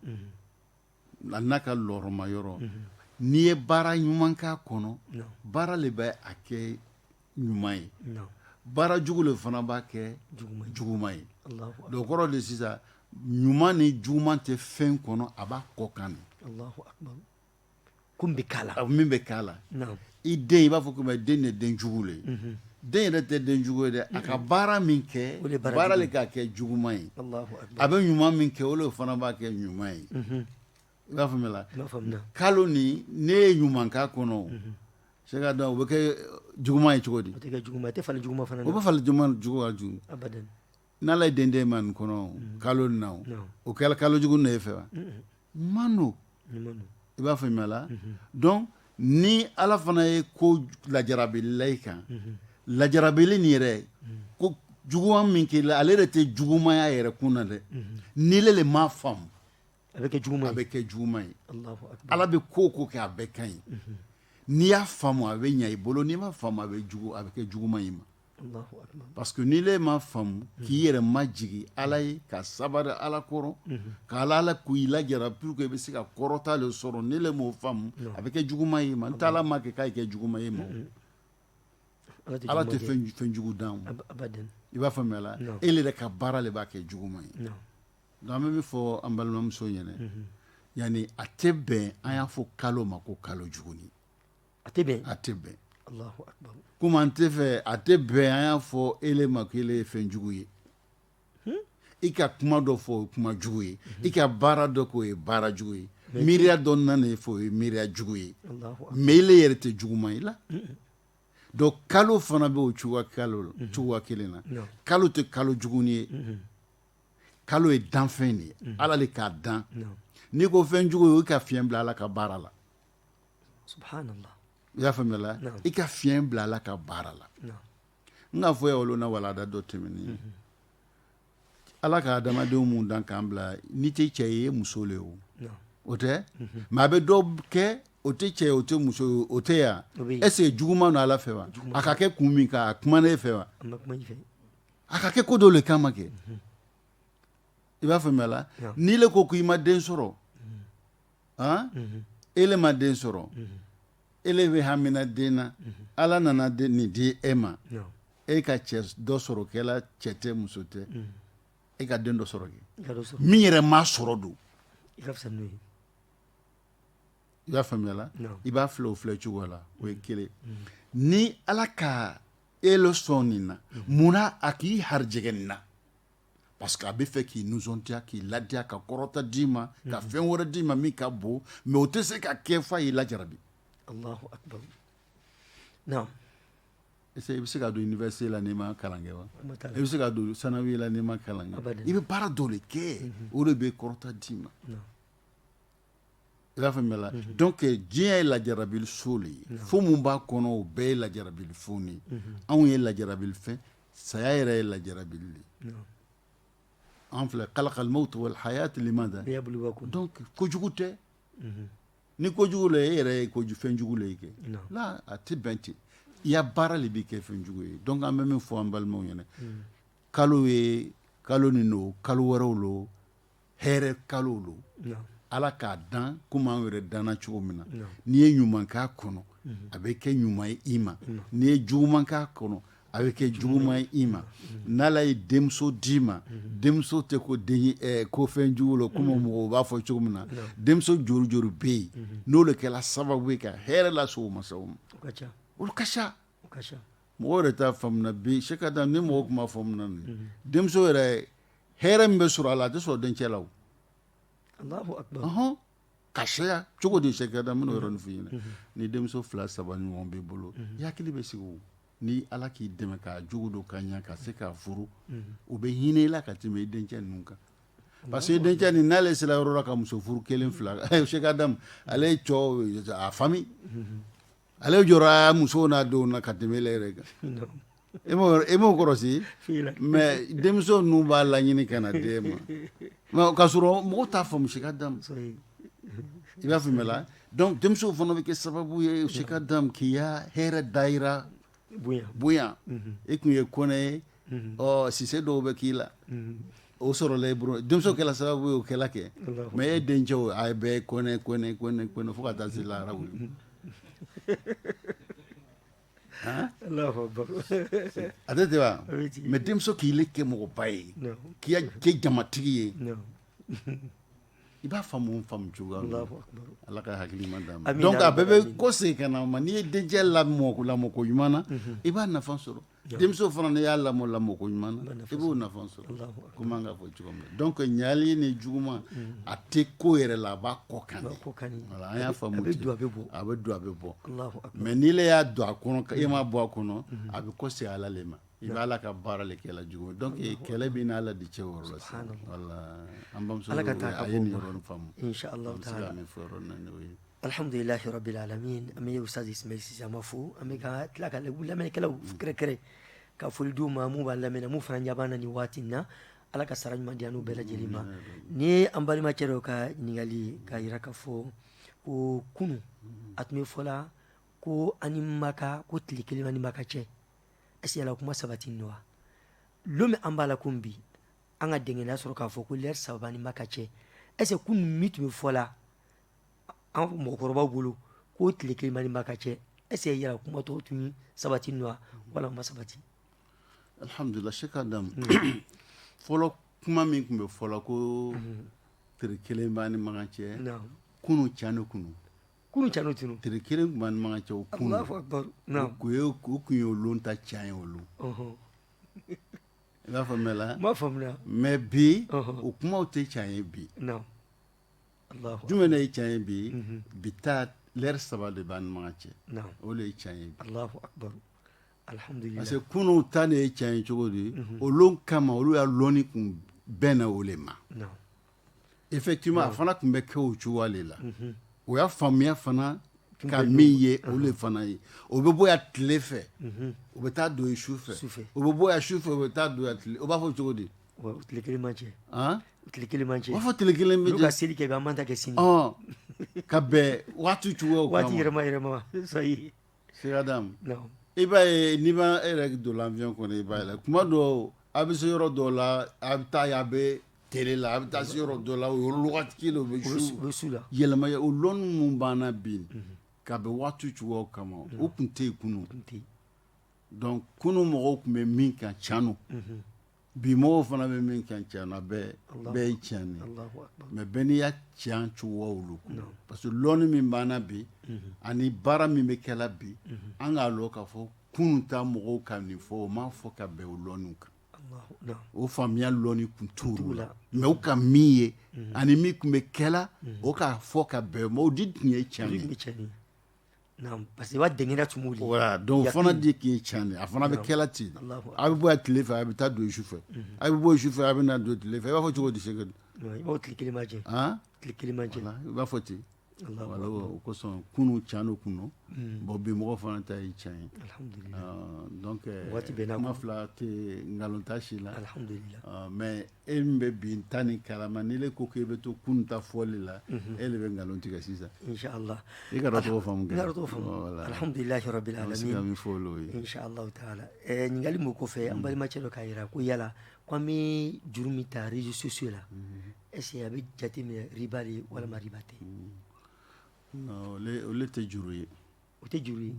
B: a n'a ka lɔɔrɔma yɔrɔ n'i ye baara ɲuman k'a kɔnɔ baara le bɛ a kɛ ɲuman ye baara jugu le fana b'a kɛ juguman ye donc kɔrɔ de sisan ɲuman ni juguman tɛ fɛn kɔnɔ a b'a kɔkan
A: ko min bɛ k'a la min bɛ k'a
B: la i den i b'a fɔ ko den de den jugu le den yɛrɛ tɛ den jugu ye dɛ a ka baara min kɛ baara le k'a kɛ juguma ye a bɛ ɲuman min kɛ o le fana b'a kɛ ɲuman ye i b'a faamuya la kalo ni ne ye ɲuman k'a kɔnɔ Cheikh Adam o bɛ kɛ juguma ye cogo di tɛ
A: jugu tɛ falen jugu fana o bɛ
B: falen jugu jugu
A: N' ala ye
B: den d'e ma nin kɔnɔ kalo nin na o kɛra kalo jugu le ye e fɛ wa ɲuman don i b'a faamuya la donc ni ala fana ye ko lajarabi la i kan lajarabili nin yɛrɛ ko juguma min k'i la ale de tɛ jugumaya yɛrɛ kun na dɛ ni ile m'a faamu a bɛ kɛ
A: jugu a bɛ kɛ juguma
B: ye ala bɛ ko o ko kɛ a bɛɛ ka ɲi n'i y'a faamu a bɛ ɲɛ i bolo n'i m'a faamu a bɛ a bɛ kɛ juguma ye i ma Parce que ni ile m'a faamu k'i yɛrɛ majigin ala ye ka sabari ala kɔrɔ k' ala ala k'i lajarabi pour que i bɛ se ka kɔrɔta le sɔrɔ ni ile m'o faamu a bɛ kɛ juguma ye ma n t'ala ma kɛ k'a kɛ juguma ye ma ala tɛ fɛn jugu dan i b'a faamuya la e yɛrɛ ka baara le b'a kɛ juguma ye donc an bɛ min fɔ an balimamuso ɲɛna yani a tɛ bɛn an y'a fɔ kalo ma ko kalo jugu A tɛ
A: bɛn a tɛ bɛn komi an tɛ
B: fɛ a tɛ bɛn an y'a fɔ ele ma k'ele ye fɛn jugu ye i ka kuma dɔ fɔ o ye kuma jugu ye i ka baara dɔ k'o ye baara jugu ye miiriya dɔ nana fɔ o ye miiriya jugu ye mais ele yɛrɛ tɛ juguma ye la donc kalo fana bɛ o cogoya kelen na kalo tɛ kalo juguni ye kalo ye danfɛn de ye ala le k'a dan n'i ko fɛn jugu ye o i ka fiɲɛ bila ala ka baara la
A: i
B: b'a faamuya la i ka fiɲɛ bila ala ka baara la n k'a fɔ wolo na walada dɔ tɛmɛnen ye ala ka adamadenw minnu dan k'an bila n'i tɛ cɛ ye muso le o o tɛ mais a bɛ dɔ kɛ o tɛ cɛ o tɛ muso o tɛ yan est-ce juguman don ala fɛ wa a ka kɛ kun min kan a kuma ne fɛ wa a ka kɛ ko dɔ le kama kɛ i b'a faamuya la n'i le ko ko i ma den sɔrɔ ele ma den sɔrɔ ele bɛ hamina den na ala nana nin di e ma e ka cɛ dɔ sɔrɔ kɛ la cɛ tɛ muso tɛ e ka den dɔ sɔrɔ kɛ min yɛrɛ ma sɔrɔ don i b'a faamuya la i b'a filɛ o filɛ cogo la o ye kelen ni ala ka ele sɔn nin na munna a k'i harijɛgɛ nin na parce que a bɛ fɛ k'i nisɔndiya k'i ladiya ka kɔrɔta d'i ma ka fɛn wɛrɛ d'i ma min ka bon mais o tɛ se ka kɛ f'a y'i lajarabi Allahu akbar
A: naam
B: est-ce que i bɛ se ka don université la n'i ma kalan kɛ wa Kuma t'a la. i bɛ se ka don sanawi la n'i ma kalan kɛ Abadan. i bɛ baara dɔ le kɛ o le bɛ kɔrɔta d'i ma naam i b'a faamuya la donc eh, diɲɛ ye lajarabili so le ye fɛn mun b'a kɔnɔ o bɛɛ ye lajarabili fɛnw de ye anw ye lajarabili fɛn saya yɛrɛ ye lajarabili le ye an filɛ kalakal mawtu wal hayat limada liyabluwakum donc kojugu tɛ mhm. ni kojugu le e yɛrɛ ye koju fɛn jugu le ye kɛ la a tɛ bɛn ten i ya baara le b'i kɛ fɛn jugu ye donc an bɛ min fɔ an balimaw ɲɛna mhm. kalo ye kalo nin don kalo wɛrɛw lo hɛrɛ kalo lo ala k'a dan komi an yɛrɛ danna cogo min na n'i ye ɲuman k'a kɔnɔ a bɛ kɛ ɲuman ye i ma n'i ye juguman k'a kɔnɔ a bɛ kɛ juguman ye i ma n'ala ye denmuso d'i ma denmuso tɛ ko den ko fɛn jugu la komi mɔgɔw b'a fɔ cogo min na denmuso jori jori bɛ yen n'o le kɛra sababu ye ka hɛrɛ lase o masaw ma olu ka ca mɔgɔw yɛrɛ t'a faamuya bi Cheikh Adam ni mɔgɔw tun b'a faamuya denmuso yɛrɛ hɛrɛ min bɛ sɔrɔ a la a tɛ sɔrɔ dencɛ
A: la o ka
B: caya cogo di Cheikh Adam n bɛn'o yɔrɔnin f'i ɲɛna ni denmuso fila saba ɲɔgɔn b'i bolo i ya hakili bɛ sigi ni ala k'i dɛmɛ k'a jogo don ka ɲɛ ka se k'a furu u bɛ hinɛ i la ka tɛmɛ i dencɛ ninnu kan parce que dencɛ nin n'ale sera yɔrɔ la ka muso furu kelen fila Cheikh Adam ale ye a fa ale jɔrɔ a muso n'a denw na ka tɛmɛ ele yɛrɛ kan e m'o kɔrɔsi mais denmuso ninnu b'a laɲini ka na d'e ma o k'a sɔrɔ mɔgɔw t'a faamu Cheikh Adam i b'a faamuya la donc denmuso fana bɛ kɛ sababu ye Cheikh Adam k'i ya hɛrɛ dayɛlɛ bonya e tun ye kɔnɛ ye ɔ sise dɔw bɛ k'i la o sɔrɔla i bolo denmuso kɛla sababu y'o kɛla kɛ mais e dencɛ a bɛɛ kɔnɛ kɔnɛ kɔnɛ kɔnɛ fo ka taa se lahara a tɛ ten wa mais denmuso k'i le kɛ mɔgɔba ye k'i kɛ jamatigi ye i b'a faamu faamu cogoya ala ka hakili ɲuman d'a ma donc a bɛɛ bɛ kɔsegin ka na ma n'i ye dencɛ lamɔ lamɔko ɲuman na i b'a nafa sɔrɔ denmuso fana n'i y'a lamɔ lamɔko ɲuman na i b'o nafa sɔrɔ komi an k'a fɔ cogo min donc ɲali ni juguman a tɛ ko yɛrɛ la a b'a kɔ kan an y'a faamu ten a bɛ don a bɛ bɔ mais n'i le y'a don a kɔnɔ e m'a bɔ a kɔnɔ a bɛ kɔsegin ala le ma I b'ala ka baara de kɛ la jugu donc kɛlɛ b'i n'ala de cɛ yɔrɔ la sa voilà an ba ala ka taa a ye nin yɔrɔ faamu alihamdulilahi rabil
A: alamin an bɛ Ismail fo an bɛ ka tila ka lamɛnnikɛlaw kɛrɛnkɛrɛn ka foli d'u ma min b'an lamɛn min fana ɲa b'an na nin waati in na ala ka sara ɲuman d'an n'u bɛɛ lajɛlen ma nin ye an balimakɛ dɔ ka ɲininkali k'a jira k'a fɔ ko kunun a tun bɛ fɔ la ko an ni Maka ko tile kelen b'an ni Maka cɛ Yala kuma sabatinin lo wa don min an b'a la ko bi an ka dɛnkɛnɛya sɔrɔ k'a fɔ ko lɛri saba b'an ni Maka cɛ est-ce que kunun min tun bɛ fɔ la an mɔgɔkɔrɔbaw bolo ko tile kelen b'an ni Maka cɛ est-ce que yala kuma tɔgɔ tun sabatinin lo wala a ma sabati
B: alihamdulila Sheikh Adama fɔlɔ kuma min tun bɛ fɔ ko tile kelen b'an ni Maka cɛ kunun can ni kunun Kunun can tun don tile
A: kelen tun b'an ni Maka
B: cɛ o kunun Allahu akbar o tun ye olu ta can ye olu i b'a faamu n b'a faamuya
A: mais bi
B: o kumaw tɛ can ye bi jumɛn ye can ye bi bi ta lɛri saba de b'an ni Maka cɛ o de ye can
A: ye parce que kunun
B: ta de ye can ye cogo di olu kama olu ya dɔnni kun bɛnna o le ma Effectivement a fana tun bɛ kɛ o cogoya le la, unhun, o y'a faamuya fana ka min ye o le fana ye o bɛ bɔ yan tile fɛ, unhun, o bɛ taa don yen su fɛ, su fɛ, o bɛ bɔ yan su fɛ o bɛ taa don yan tile o b'a fɔ cogo di, bon tile kelen b'an
A: cɛ, an, tile kelen b'an cɛ, u b'a fɔ tile kelen b'an cɛ, olu
B: ka seli kɛ bi an b'an ta kɛ sini,
A: ɔn, ka
B: bɛn waati cogoyaw ma, waati yɛlɛma yɛlɛma
A: Sheikh
B: Adam i b'a ye n'i ba i yɛrɛ don l'avion kɔnɔ i b'a la kuma dɔw a bɛ se yɔrɔ dɔw la a bɛ taa a bɛ tile la a bɛ taa se yɔrɔ dɔ la o yɔrɔ la wagati kelen o bɛ yɛlɛma o dɔnni min b'an na bi ka bɛn waati cogo kama o tun tɛ yen kunun tɛ yen donc kunun mɔgɔw tun bɛ min kan can Bi mɔgɔw fana bɛ min kan cɛn na a bɛɛ ye cɛn ye mais bɛɛ n'i ya cɛn cogoya lo parce que lɔnni min b'an na bi ani baara min bɛ kɛla bi an k'a lɔn k'a fɔ kunun ta mɔgɔw ka nin fɔ o m'a fɔ ka bɛn o lɔnni kan o faamuya lɔnni tun t'u la mais u ka min ye ani min tun bɛ kɛla o k'a fɔ ka bɛn o ma o de tun ye cɛn ye
A: Parce que b'a denkɛ dɔw fana
B: de k'i ye cɛn a fana bɛ kɛla ten a bɛ bɔ tile fɛ a bɛ taa don su fɛ a bɛ bɔ su fɛ a bɛ na don tile fɛ i b'a fɔ cogo di Sheikh
A: i b'a
B: fɔ ten o kosɔn kunun cɛn kun bon bi mɔgɔ fana ta ye cɛn ye donc waati bɛ kuma fila tɛ nkalon ta si la mais e min bɛ bi ta ni kalama ni e ko k'i bɛ to kunun ta fɔli la e de bɛ nkalon tigɛ sisan i
A: ka
B: tɔgɔ
A: faamu
B: ɲininkali
A: min kɔfɛ an balimacɛ dɔ k'a jira ko yala ko an bɛ juru min ta réseaux sociaux la est-ce que a bɛ jate minɛ riba de walima riba tɛ
B: olu tɛ juru ye o tɛ juru ye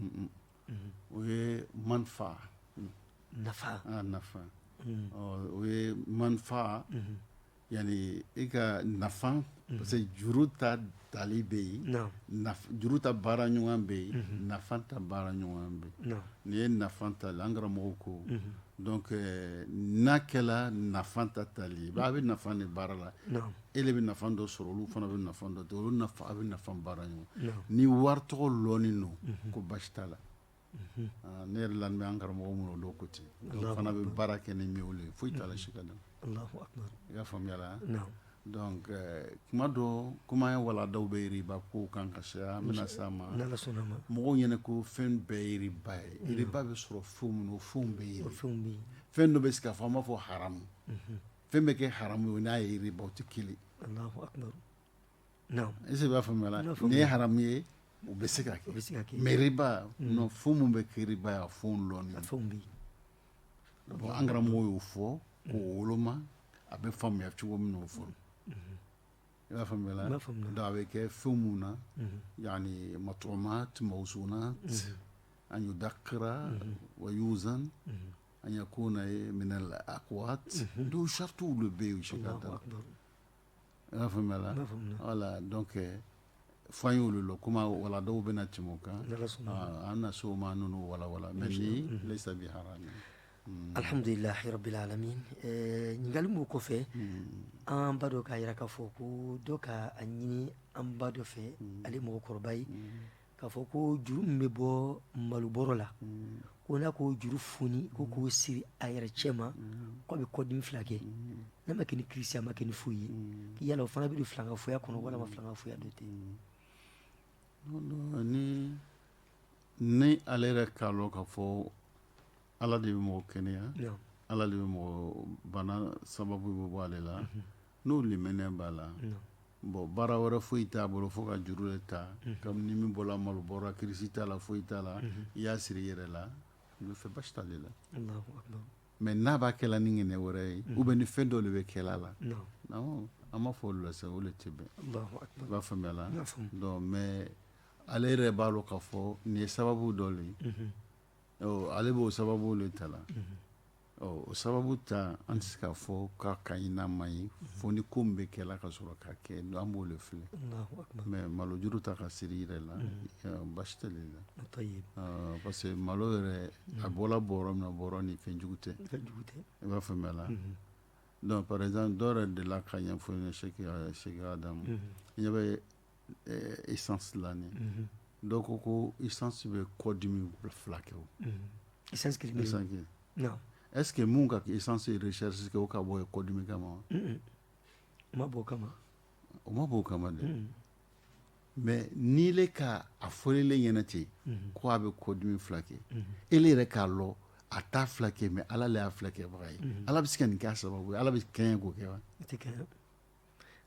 A: o
B: ye
A: manfa nafa
B: nafa o ye manfa yani i ka nafa parce que juru ta tali bɛ yen juru ta baara ɲɔgɔn bɛ yen nafa ta baara ɲɔgɔn bɛ yen nin ye nafa tali an karamɔgɔw ko donc n'a kɛra nafa ta tali ye a bɛ nafa de baara la e bɛ nafa dɔ sɔrɔ olu fana bɛ nafa dɔ olu nafa a bɛ nafa baara ɲɔgɔn ni wari tɔgɔ lɔnni don ko basi t'a la ne yɛrɛ la an karamɔgɔ minnu dɔn ko ten olu fana bɛ baara kɛ ni min ye foyi t'a la Sheikh i y'a faamuya la kuma dɔ kuma ye walanda bɛ riba ko kan ka se an bɛna s'a ma mɔgɔw ɲɛna ko fɛn bɛɛ ye riba ye riba bɛ sɔrɔ fɛn minnu fɛn bɛ yen fɛn dɔ bɛ se ka fɔ an b'a fɔ haramu fɛn bɛ kɛ haramu ye n'a ye riba o tɛ kelen est-ce que i b'a faamuya nin ye haramu ye u bɛ se ka kɛ mais riba fɛn minnu bɛ kɛ riba ye a fɛn lɔnni an karamɔgɔw y'o fɔ k'o woloma a bɛ faamuya cogo min o fɔ i b'a faamuya donc a bɛ kɛ fɛn minnu na yani matumatan mawzunatan yudakira wa yuzan An yakuna min al aqwat o saratiw de bɛ yen Sheikh Adam i b'a faamuya voilà donc k'a fɔ an ye olu la kuma walandaw bɛ na tɛmɛ o kan an na s'o ma ninnu walanda la mais laysa bi
A: alihamdulilahi rabbil alamin ɲininkali min kɔfɛ an ba dɔ k'a jira k'a fɔ ko dɔ ka a ɲini an ba dɔ fɛ ale mɔgɔkɔrɔba ye K k'a fɔ ko juru min bɛ bɔ malobɔrɔ la ko n'a k'o juru foni ko k'o siri a yɛrɛ cɛ ma k'a bɛ kɔdimi fila kɛ n'a ma kɛ ni kirisi a ma kɛ ni foyi ye k'i yala o fana bɛ don filankafoya kɔnɔ walima filankafoya dɔ tɛ
B: ni ale yɛrɛ k'a dɔn k'a fɔ ala de bɛ mɔgɔ kɛnɛya ala de bɛ mɔgɔ bana sababu bɛ bɔ ale la N'o limaniya b'a la bon baara wɛrɛ foyi t'a bolo fo ka juru de ta comme ni min bɔra malobɔrɔ la kirisi t'a la foyi t'a la i y'a siri i yɛrɛ la n fɛ basi t'ale la mais n'a b'a kɛla ni ŋaniya wɛrɛ ye ou bien ni fɛn dɔ de bɛ kɛla a la an m'a fɔ o la o de tɛ bɛn i b'a faamuya la mais ale yɛrɛ b'a dɔn k'a fɔ nin ye sababu dɔ de ye ale b'o sababu de ta la o sababu ta an tɛ se k'a fɔ k'a ka ɲi n'a man ɲi fo ni ko min bɛ kɛla ka sɔrɔ k'a kɛ an b'o de filɛ mais malo juru ta ka siri i yɛrɛ la basi t'ale la parce que malo yɛrɛ a bɔra bɔrɔ min na bɔrɔ ni fɛnjugu tɛ i b'a faamuya la donc par exemple dɔ yɛrɛ delila k'a ɲɛfɔ Seki Adamu ɲɛ bɛ essence la nin ye dɔw ko essence bɛ kɔdimi
A: fila kɛ o est-ce que min ka
B: essence recherche o ka bɔ ye kɔdimi kama o ma bɔ
A: o kama o ma bɔ
B: o kama dɛ mais n'ile ka a fɔlen ɲɛna ten ko a bɛ kɔdimi fila kɛ e yɛrɛ k'a dɔn a t'a fila kɛ mais ala le y'a fila kɛbaga ye ala bɛ se ka nin kɛ a sababu ye ala bɛ kɛɲɛ k'o kɛ wa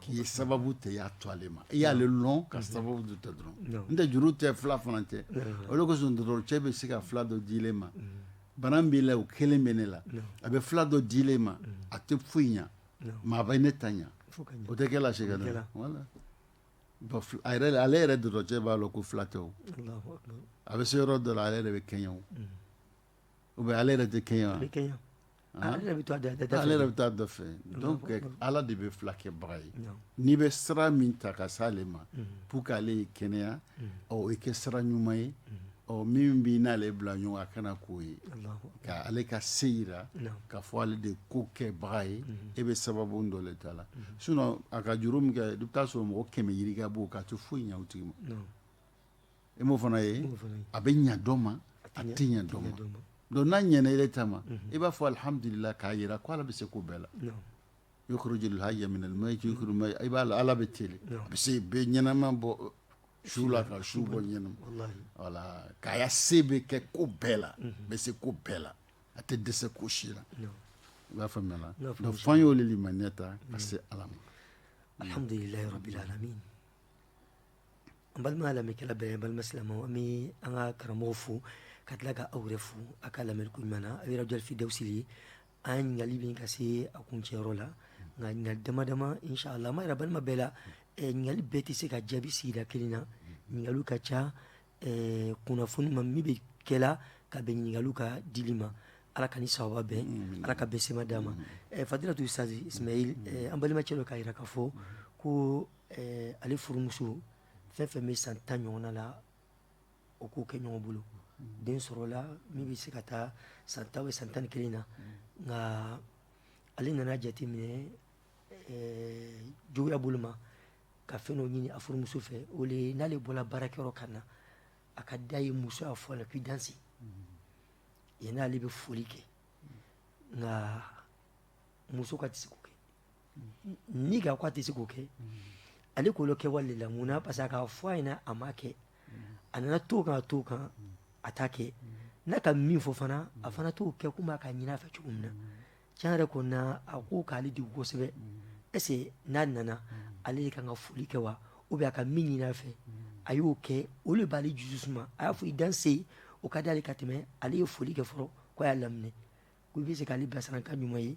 B: K'i ye sababu ta i y'a to ale ma i y'ale dɔn ka sababu dɔ ta dɔrɔn nɔntɛ juru tɛ fila fana tɛ o le kosɔn docteur bɛ se ka fila dɔ di ile ma bana b'i la o kelen bɛ ne la a bɛ fila dɔ di ile ma a tɛ foyi ɲɛ i ma a bɛ ne ta ɲɛ o tɛ kɛla Seki ale yɛrɛ docteur b'a lɔn ko fila tɛ a bɛ se yɔrɔ dɔ la ale yɛrɛ bɛ kɛɲɛ ou bien ale yɛrɛ tɛ kɛɲɛ Ale yɛrɛ bɛ taa dɔ fɛ, ale yɛrɛ bɛ taa dɔ fɛ donc Ala de bɛ fila kɛbaga ye, n'i bɛ sira min ta ka se ale ma pour que ale y'i kɛnɛya o kɛ sira ɲuman ye ɔ min b'i n'ale bila ɲɔgɔn na kana k'o ye ka ale ka se jira k'a fɔ ale de ko kɛbaga ye e bɛ sababu dɔ le ta la sinon a ka juru min kɛ i bɛ taa sɔrɔ mɔgɔ kɛmɛ yirika b'o kɛ a tɛ foyi ɲɛ o tigi ma e m'o fana ye a bɛ ɲɛ dɔ ma a tɛ ɲɛ dɔ ma donc n'a ɲɛna e ta ma i b'a fɔ alihamdulila k'a jira k' ala bɛ se ko bɛɛ la yukhrijul hayya minal mayyiti i b'a ala bɛ te a bɛ se bɛ ɲɛnama bɔ su la ka su bɔ ɲɛnama voilà k'a se bɛ kɛ ko bɛɛ la bɛ se ko bɛɛ la a tɛ dɛsɛ ko si la i b'a faamuya la donc fo an y'o limaniya ta ka se ala ma
A: An balima lamɛnnikɛla bɛɛ balima silamɛw an be an ka karamɔgɔ fo ka tila ka aw yɛrɛ fo a' ka lamɛli ko ɲuman na aw ye Radio Al Firdaws ye an ɲininkali be ka se a kuncɛyɔrɔ la ŋa ɲininkali dama dama in sha Allah an b'a yira balima bɛɛ la ɛ ɲininkali bɛɛ te se ka jaabi sigida kelen na ɲininkaliw ka ca ɛɛ kunnafoni ma min be kɛla ka bɛn ɲininkaliw ka dili ma Ala ka ni sababa bɛn Ala ka bɛn sema d'an ma ɛ Fadilatu Ustaz Ismaïl ɛ an balima cɛ dɔ k'a yira k'a fɔ koo Ɛɛ ale furumuso fɛn fɛn bɛ san tan ɲɔgɔn la o k'o kɛ ɲɔgɔn bolo den sɔrɔla min bɛ se ka taa san tan bɛ san tan ni kelen na nka ale nana jate minɛ juguya bolo ma ka fɛn dɔ ɲini a furumuso fɛ o le n'ale bɔra baarakɛyɔrɔ ka na a ka d'a ye muso y'a fɔ a la k'i danse yann'ale bɛ foli kɛ nka muso k'a tɛ se k'o kɛ nka k'a tɛ se k'o kɛ ale k'o kɛ wale la mun na parce que a k'a fɔ a ɲɛna a ma kɛ a nana to ka to kan a t'a kɛ n'a ka min fɔ fana a fana t'o kɛ komi a k'a ɲin'a fɛ cogo min na tiɲɛ yɛrɛ kɔni na a ko k'ale di kosɛbɛ est-ce que n'a nana ale de ka kan ka foli kɛ wa ou bien a ka min ɲin'a fɛ a y'o kɛ o de b'ale dusu suma a y'a fɔ i danse o ka di ale ka tɛmɛ ale ye foli kɛ fɔlɔ ko a y'a laminɛ ko i bɛ se k'ale bilasira kan ɲuman ye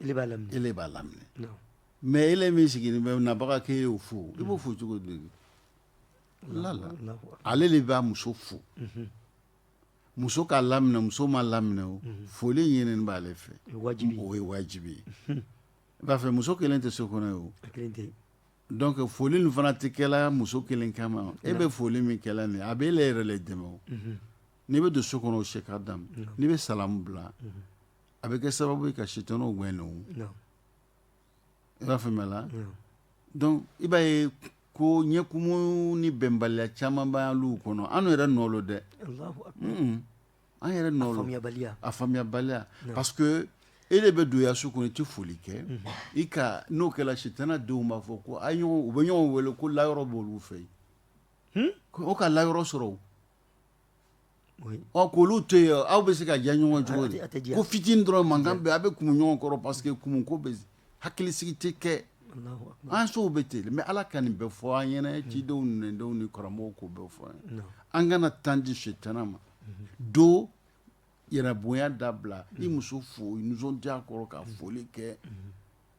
A: e b'a
B: laminɛ e
A: b'a laminɛ mais
B: e min sigilen bɛ nabaga k'e y'o fo i b'o fo cogo di ale
A: de b'a muso fo
B: muso k'a laminɛ muso ma laminɛ o foli ɲinini b'ale fɛ wajibi o
A: ye wajibi
B: ye i b'a fɛ muso kelen tɛ so kɔnɔ yen
A: o donc
B: foli nin fana tɛ kɛla muso kelen kama e bɛ foli min kɛla nin a bɛ e le yɛrɛ le dɛmɛ o n'i bɛ don so kɔnɔ o Cheikh Adam n'i bɛ salamu bila a bɛ kɛ sababu ye ka sitanaw gɛn non i b'a faamuya la
A: donc
B: i b'a ye ko ɲɛkumu ni bɛnbaliya caman b'an ya luw kɔnɔ an yɛrɛ nɔ lo dɛ
A: an
B: yɛrɛ nɔ lo faamuyabaliya a faamuyabaliya parce que e de bɛ don i ya so kɔnɔ i tɛ foli kɛ i ka n'o kɛla sitana denw b'a fɔ ko u bɛ ɲɔgɔn wele ko layɔrɔ b'olu fɛ yen o ka layɔrɔ sɔrɔ
A: Ɔ ko olu
B: to yen aw bɛ se ka diya ɲɔgɔn cogo di ko fitini
A: dɔrɔn
B: mankan bɛ a bɛ kumu ɲɔgɔn kɔrɔ parce que kumu ko bɛ hakilisigi tɛ kɛ an sow
A: bɛ ten mais ala
B: ka nin bɛɛ fɔ an ɲɛna cidenw denw ni karamɔgɔw k'o bɛɛ fɔ an ye an kana
A: temps
B: di sitana ma donc yɛrɛbonya dabila i muso fo nisɔndiya kɔrɔ ka foli kɛ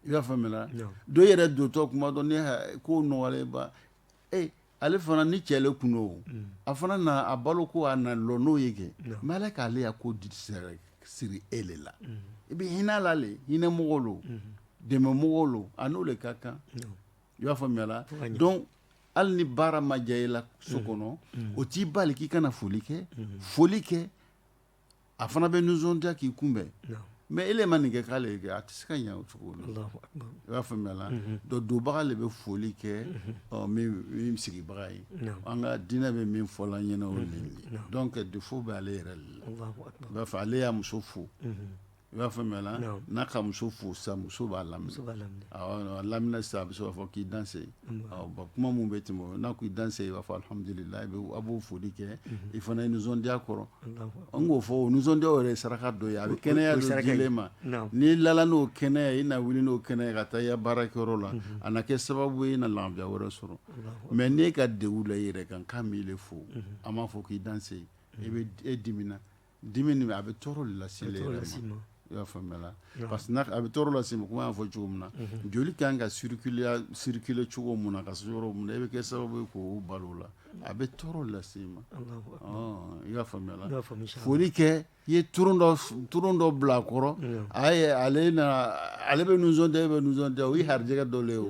B: i b'a faamuya dɔ yɛrɛ
A: dontɔ
B: tuma dɔ ni ko nɔgɔ ale fana ni cɛ le kun lo a fana na a balo ko a na lɔn n'o ye kɛ mais Ala k'ale ya ko siri e le la i bɛ hinɛ a la le hinɛmɔgɔ lo dɛmɛmɔgɔ lo a n'o le ka kan i b'a
A: faamuya
B: la
A: donc hali
B: ni baara ma diya i la so kɔnɔ o t'i bali k'i kana foli kɛ foli kɛ a fana bɛ nisɔndiya k'i kunbɛn mais e le
A: ma nin
B: kɛ k'ale ye kɛ a tɛ se ka ɲɛ o cogo la i b'a
A: faamuya la
B: donc donbaga le bɛ foli kɛ min sigibaga ye an ka
A: diinɛ
B: bɛ min fɔ la ɲɛna o le ye donc défaut bɛ ale yɛrɛ le la i b'a fɔ ale
A: y'a muso
B: fo i b'a faamuya la n'a ka muso fo sa muso b'a
A: lam lamina
B: sisan a bɛ se k'a fɔ k'i danse kuma min bɛ tɛmɛ n'a ko i danse i b'a fɔ alhamdulillahi a b'o foli kɛ i fana ye nisɔndiya kɔrɔ an k'o fɔ
A: nisɔndiya
B: yɛrɛ ye saraka dɔ ye a bɛ kɛnɛya saraka di le i
A: ma
B: n'i lala n'o kɛnɛya ye i na wuli n'o kɛnɛya ye ka taa i ka baarakɛyɔrɔ la a na kɛ sababu ye i na lafiya wɛrɛ sɔrɔ mais n'e ka degun la i yɛrɛ kan k'a m'i le fo a m'a fɔ k'i danse i bɛ e dimina Dimi nin a bɛ tɔɔrɔ lase i ma i
A: y'a
B: faamuya parce que a bɛ tɔɔrɔ lase i ma comme a y'a fɔ cogo min na joli ka kan ka circuler cogo min na ka se yɔrɔ min na e bɛ kɛ sababu ye k'o balo la a bɛ tɔɔrɔ lase i ma
A: i y'a
B: faamuya foli
A: kɛ i
B: ye tulon dɔ bila a kɔrɔ ale ale bɛ nisɔndiya e bɛ nisɔndiya o ye harijɛgɛ dɔ le ye o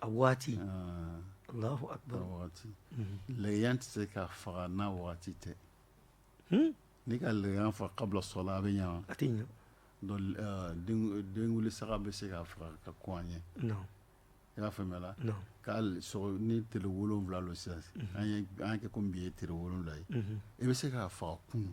A: a waati
B: waati lɛgɛya tɛ se ka faga n'a waati tɛ n'i ka lɛgɛya faga kabila sɔla a bɛ ɲɛ a tɛ ɲɛ denkuli saga bɛ se ka faga ka kɔn a ɲɛ
A: i y'a
B: faamuya k'a ni tile wolonfila lo sisan an y'a kɛ komi bi ye tile wolonfila ye i bɛ se k'a faga kunu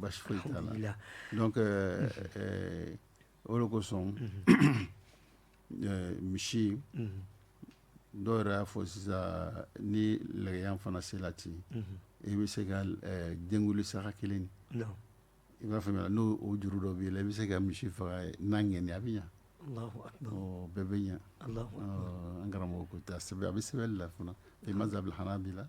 B: Basi donc o le kosɔn misi dɔw yɛrɛ y'a fɔ sisan ni lɛgɛya fana sela ten i bɛ se ka denkuli saga kelen i b'a faamuya n'o juru dɔ b'i la i bɛ se ka misi faga n'a ŋaniya a bɛ ɲɛ bɛɛ bɛ ɲɛ an karamɔgɔ ko ten a bɛ sɛbɛn la fana fi mazhabil hanabila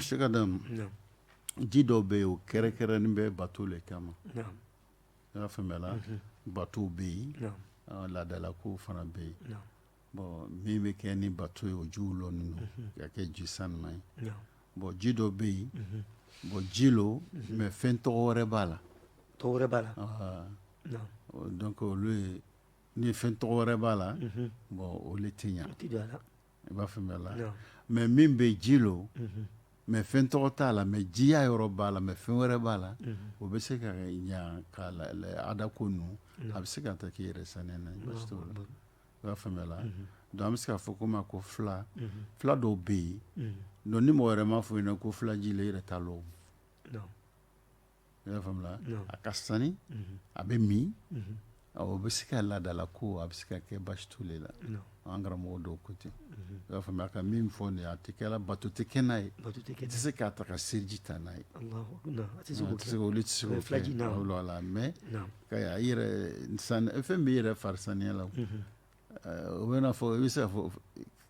B: Cheikh Adam ji dɔ bɛ yen o kɛrɛnkɛrɛnnen bɛ bato le kama i y'a faamuya la bato bɛ yen laadalakow fana bɛ yen bon min bɛ kɛ ni bato ye o jiw lo ninnu ka kɛ ji sanuma ye bon ji dɔ bɛ yen bon ji lo mais fɛn tɔgɔ wɛrɛ b'a la tɔgɔ wɛrɛ b'a la
A: donc olu
B: ye ni fɛn tɔgɔ wɛrɛ b'a la bon olu tɛ ɲɛ i b'a faamuya la Awɔ. mais min bɛ ji lo Unhun. mais fɛn tɔgɔ t'a la mais jiya yɔrɔ b'a la mais fɛn wɛrɛ b'a la Unhun. o bɛ se ka ɲa ka la- la- ada ko ninnu a bɛ se ka ta k'i yɛrɛ saniya n'a ye baasi t'o la i b'a faamuya la donc an bɛ se k'a fɔ ko ma ko fila Unhun. fila dɔw bɛ yen Unhun. donc ni mɔgɔ wɛrɛ m'a fɔ i ɲɛna ko filaji le i yɛrɛ t'a lɔn Non. i y'a faamuya a ka sani a bɛ min o bɛ se ka laadala ko a bɛ se ka kɛ baasi t'o la an karamɔgɔ dɔw ko ten i y'a faamuya a ka min fɔ nin a tɛ kɛ la bato tɛ kɛ n'a ye i tɛ se k'a ta ka seliji ta n'a ye tɛ se olu tɛ se fulaji la mais fɛn b'i yɛrɛ fari saniya la o b'a fɔ i bɛ se fɔ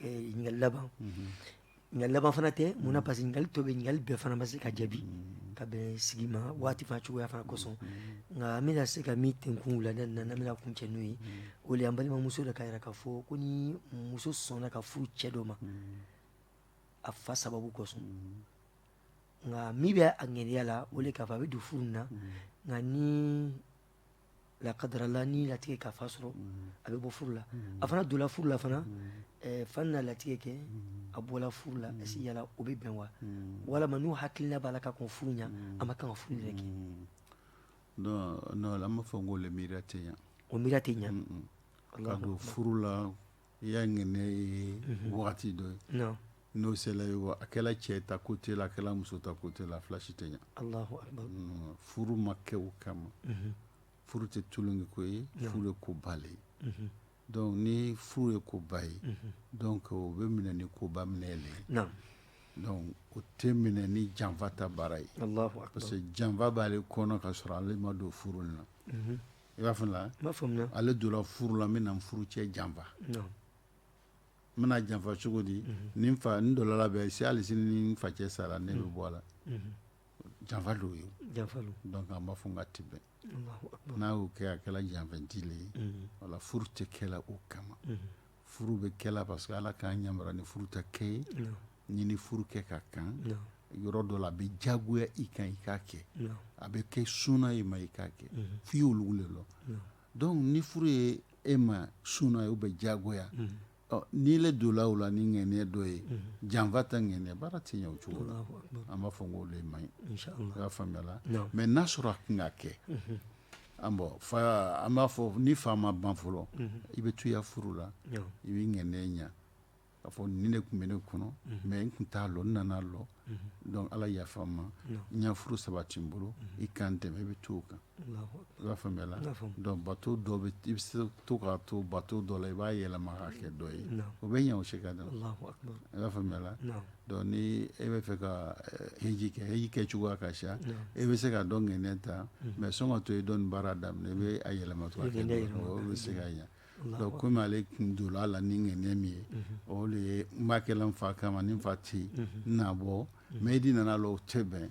A: ɲininkali laban ɲininkali laban fana tɛ mun na parce que ɲininkali tɔ bɛ yen ɲininkali bɛɛ fana ma se ka jaabi ka bɛn sigi ma waati fana cogoya fana kosɔn nka an bɛna se ka min tenkun wulada in na n'an bɛna kuncɛ n'o ye o de ye an balimamuso dɔ k'a yira k'a fɔ ko ni muso sɔnna ka furu cɛ dɔ ma a fa sababu kosɔn nka min bɛ a ŋaniya la o de k'a fɔ a bɛ don furu in na nka ni lakadarala ni latigɛ k'a fa sɔrɔ a bɛ bɔ furu la a fana donla furu la fana fa na latigɛ kɛ a bɔla furu la est-ce que yala o bɛ bɛn wa walima n'o hakilina b'a la ka kɔn furu ɲɛ a ma kan ka furu yɛrɛ kɛ
B: non an b'a fɔ n k'o le miiriya tɛ ɲa o miiriya tɛ ɲɛ
A: ka don
B: furu la I y'a ŋaniya waati dɔ ye n'o sela ye wa a kɛla cɛ ta côté la a kɛla muso ta côté la fila si tɛ ɲɛ furu ma kɛ o kama furu tɛ tulon ko ye furu ye koba le ye donc ni furu ye koba ye donc o bɛ minɛ ni koba minɛ le ye donc o tɛ minɛ ni janfa ta baara ye parce que janfa b'ale kɔnɔ ka sɔrɔ ale ma don furu in na i b'a faamuya n b'a faamuya ale donna furu la n bɛna n furucɛ janfa non n bɛna janfa cogo di ni n fa n dɔlɔla bɛ si hali sini ni n facɛ sara ne bɛ bɔ a la janfa don ye janfa don donc an b'a fɔ n k'a ti bɛn Allahu akbar n'a y'o kɛ a kɛla janfanti le ye voilà furu tɛ kɛla o kama furu bɛ kɛ la parce que Ala k'an yamaruya ni furu ta kɛ ye, non, n'i ni furu kɛ ka kan, non, yɔrɔ dɔ la a bɛ diyagoya i kan i k'a kɛ, non, a bɛ kɛ suna i ma i k'a kɛ, mm -hmm. f'i y'olu le lɔ, non, donc ni furu ye e ma suna ye ou bien diyagoya, mm -hmm. ɔ n'i le donna o la ni ŋaniya dɔ ye, mm -hmm. janfa ta ŋaniya baara tɛ ɲɛ o cogo la, an b'a fɔ n k'o le man ɲi, inchallah, i y'a faamuyala, non, mais n'a sɔrɔ a kana kɛ, mm -hmm. An bon an b'a fɔ ni fa ma ban fɔlɔ i bɛ to i ya furu la i bɛ ŋaniya ɲɛ k'a fɔ nin de tun bɛ ne kɔnɔ mais n tun t'a lɔn n nana a lɔn donc ala yafa n ma n ya furu sabati n bolo i ka n dɛmɛ i bɛ to o kan i b'a faamuya la donc bato dɔ bɛ i bɛ se to k'a to bato dɔ la i b'a yɛlɛma k'a kɛ dɔ ye o bɛ ɲɛ o se ka da i b'a faamuya la Donc ni e bɛ fɛ ka heji kɛ heji kɛ cogoya ka ca e bɛ se ka dɔ ŋaniya ta mais sɔn ka to e dɔn baara daminɛ e bɛ a yɛlɛma to a kɛ dɔ o bɛ se ka ɲɛ donc kɔmi ale tun donna a la ni ŋaniya min ye o le ye n b'a kɛ la n fa kama ni n fa tɛ n na bɔ mais e de nana a lɔn o tɛ bɛn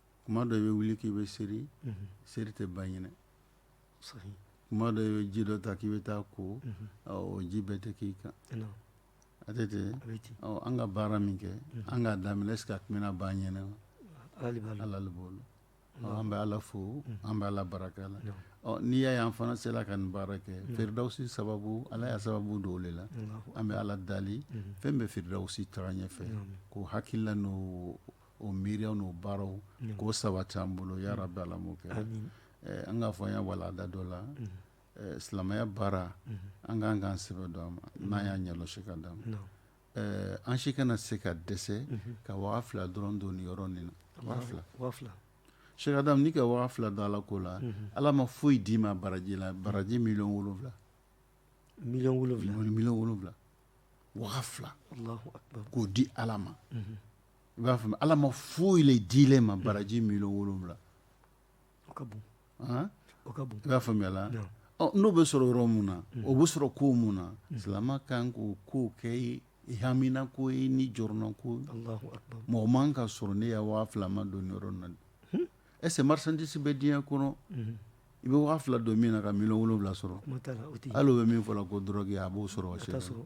A: kuma dɔ i bɛ
B: wuli k'i bɛ seri seri tɛ ban i ɲɛna kuma dɔ i bɛ ji dɔ ta k'i bɛ taa ko o ji bɛɛ tɛ k'i kan a tɛ ten an ka baara min kɛ an k'a daminɛ est-ce que a tun bɛna ban an ɲɛna ala le bolo an bɛ ala fo an bɛ ala barika la n'i y'a ye an fana sera ka nin baara kɛ Firidawusi sababu ala ya sababu don o le la an bɛ ala dali fɛn bɛ Firidawusi taa ɲɛfɛ k'o hakilila n'o o miiriya n'o baaraw k'o sabati an bolo ya rabi ala m'o kɛ an k'a fɔ an ya walanda dɔ la silamɛya baara an k'an k'an sɛbɛ don a ma n'an y'a ɲɛsi ka d'a ma an si kana se ka dɛsɛ ka waga fila dɔrɔn don nin yɔrɔ nin na Sheikh Adam n'i ka waga fila don ala ko la ala ma foyi d'i ma baraji la baraji million wolonwula million wolonwula million wolonwula waga fila k'o di ala ma i b'a faamu Ala ma foyi le dilen ma baraji million 7 o ka bon
A: han o ka
B: bon i b'a faamuya la naamu ɔ n'o bɛ sɔrɔ yɔrɔ mun na o bɛ sɔrɔ ko mun na silama ka kan k'o kow kɛ i hamina ko ye n'i jɔrɔna ko ye Alahu akibaru mɔgɔ man ka sɔrɔ ne ya waa fila ma don nin yɔrɔ in na est-ce que marchandise bɛ diɲɛ kɔnɔ i bɛ waa fila don min na ka million wolonwula sɔrɔ kuma t'a la o tɛ ye hali o bɛ min fɔ la ko drogue a b'o sɔrɔ wa a t'a sɔrɔ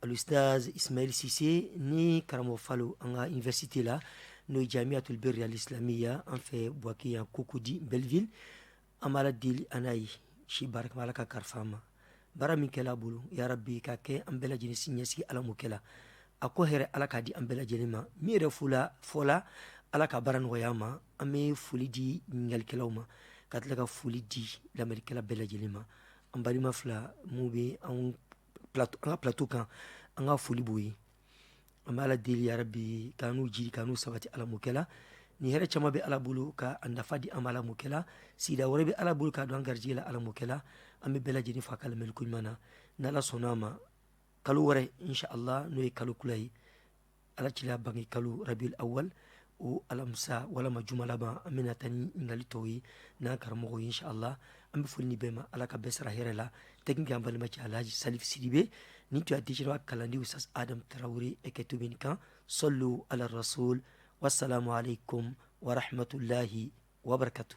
A: Alusitazi isimayɛli sise ni karamɔgɔ falo an ka université la n'o ye Jamiatul Birri al-Islamiyya an fɛ Buwake yan Cocody Belleville an b'ala deli an n'a ye si barika ala ka kalifa ma baara min kɛla a bolo ya rabi ka kɛ an bɛɛ lajɛlen si ɲɛsigi ala m'o kɛla a ko hɛrɛ ala k'a di an bɛɛ lajɛlen ma min yɛrɛ fu la fɔ la ala ka baara nɔgɔya ma an bɛ foli di ɲininkalikɛlaw ma ka tila ka foli di lamɛnnikɛla bɛɛ lajɛlen ma an balima fila minnu bɛ anw an ka plato kan an ka foli b'o ye an bɛ ala deli ya rabi k'an n'u jiri k'an n'u sabati ala m'o kɛla ni hɛrɛ caman bɛ ala bolo ka a nafa di an ma ala m'o kɛla sida wɛrɛ bɛ ala bolo ka don an garijɛ la ala m'o kɛla an bɛ bɛɛ lajɛlen fo a ka lamɛnni koɲuman na ni ala sɔnna a ma kalo wɛrɛ inshallah n'o ye kalo kura ye ala cila bange kalo rabiul awal o alamisa walima juma laban an bɛna taa ni ɲininkali tɔw ye n'an karamɔgɔ ye inshallah an bɛ foli ni bɛɛ ma ala ka bɛɛ sara hɛrɛ la technique an balimacɛ alaji salifu sidibe ni tun dise kalandi usitazi adamu tarawele eke to bi nin kan sallu ala rasul wassalamu alaikum warahmatullahi wabarakatu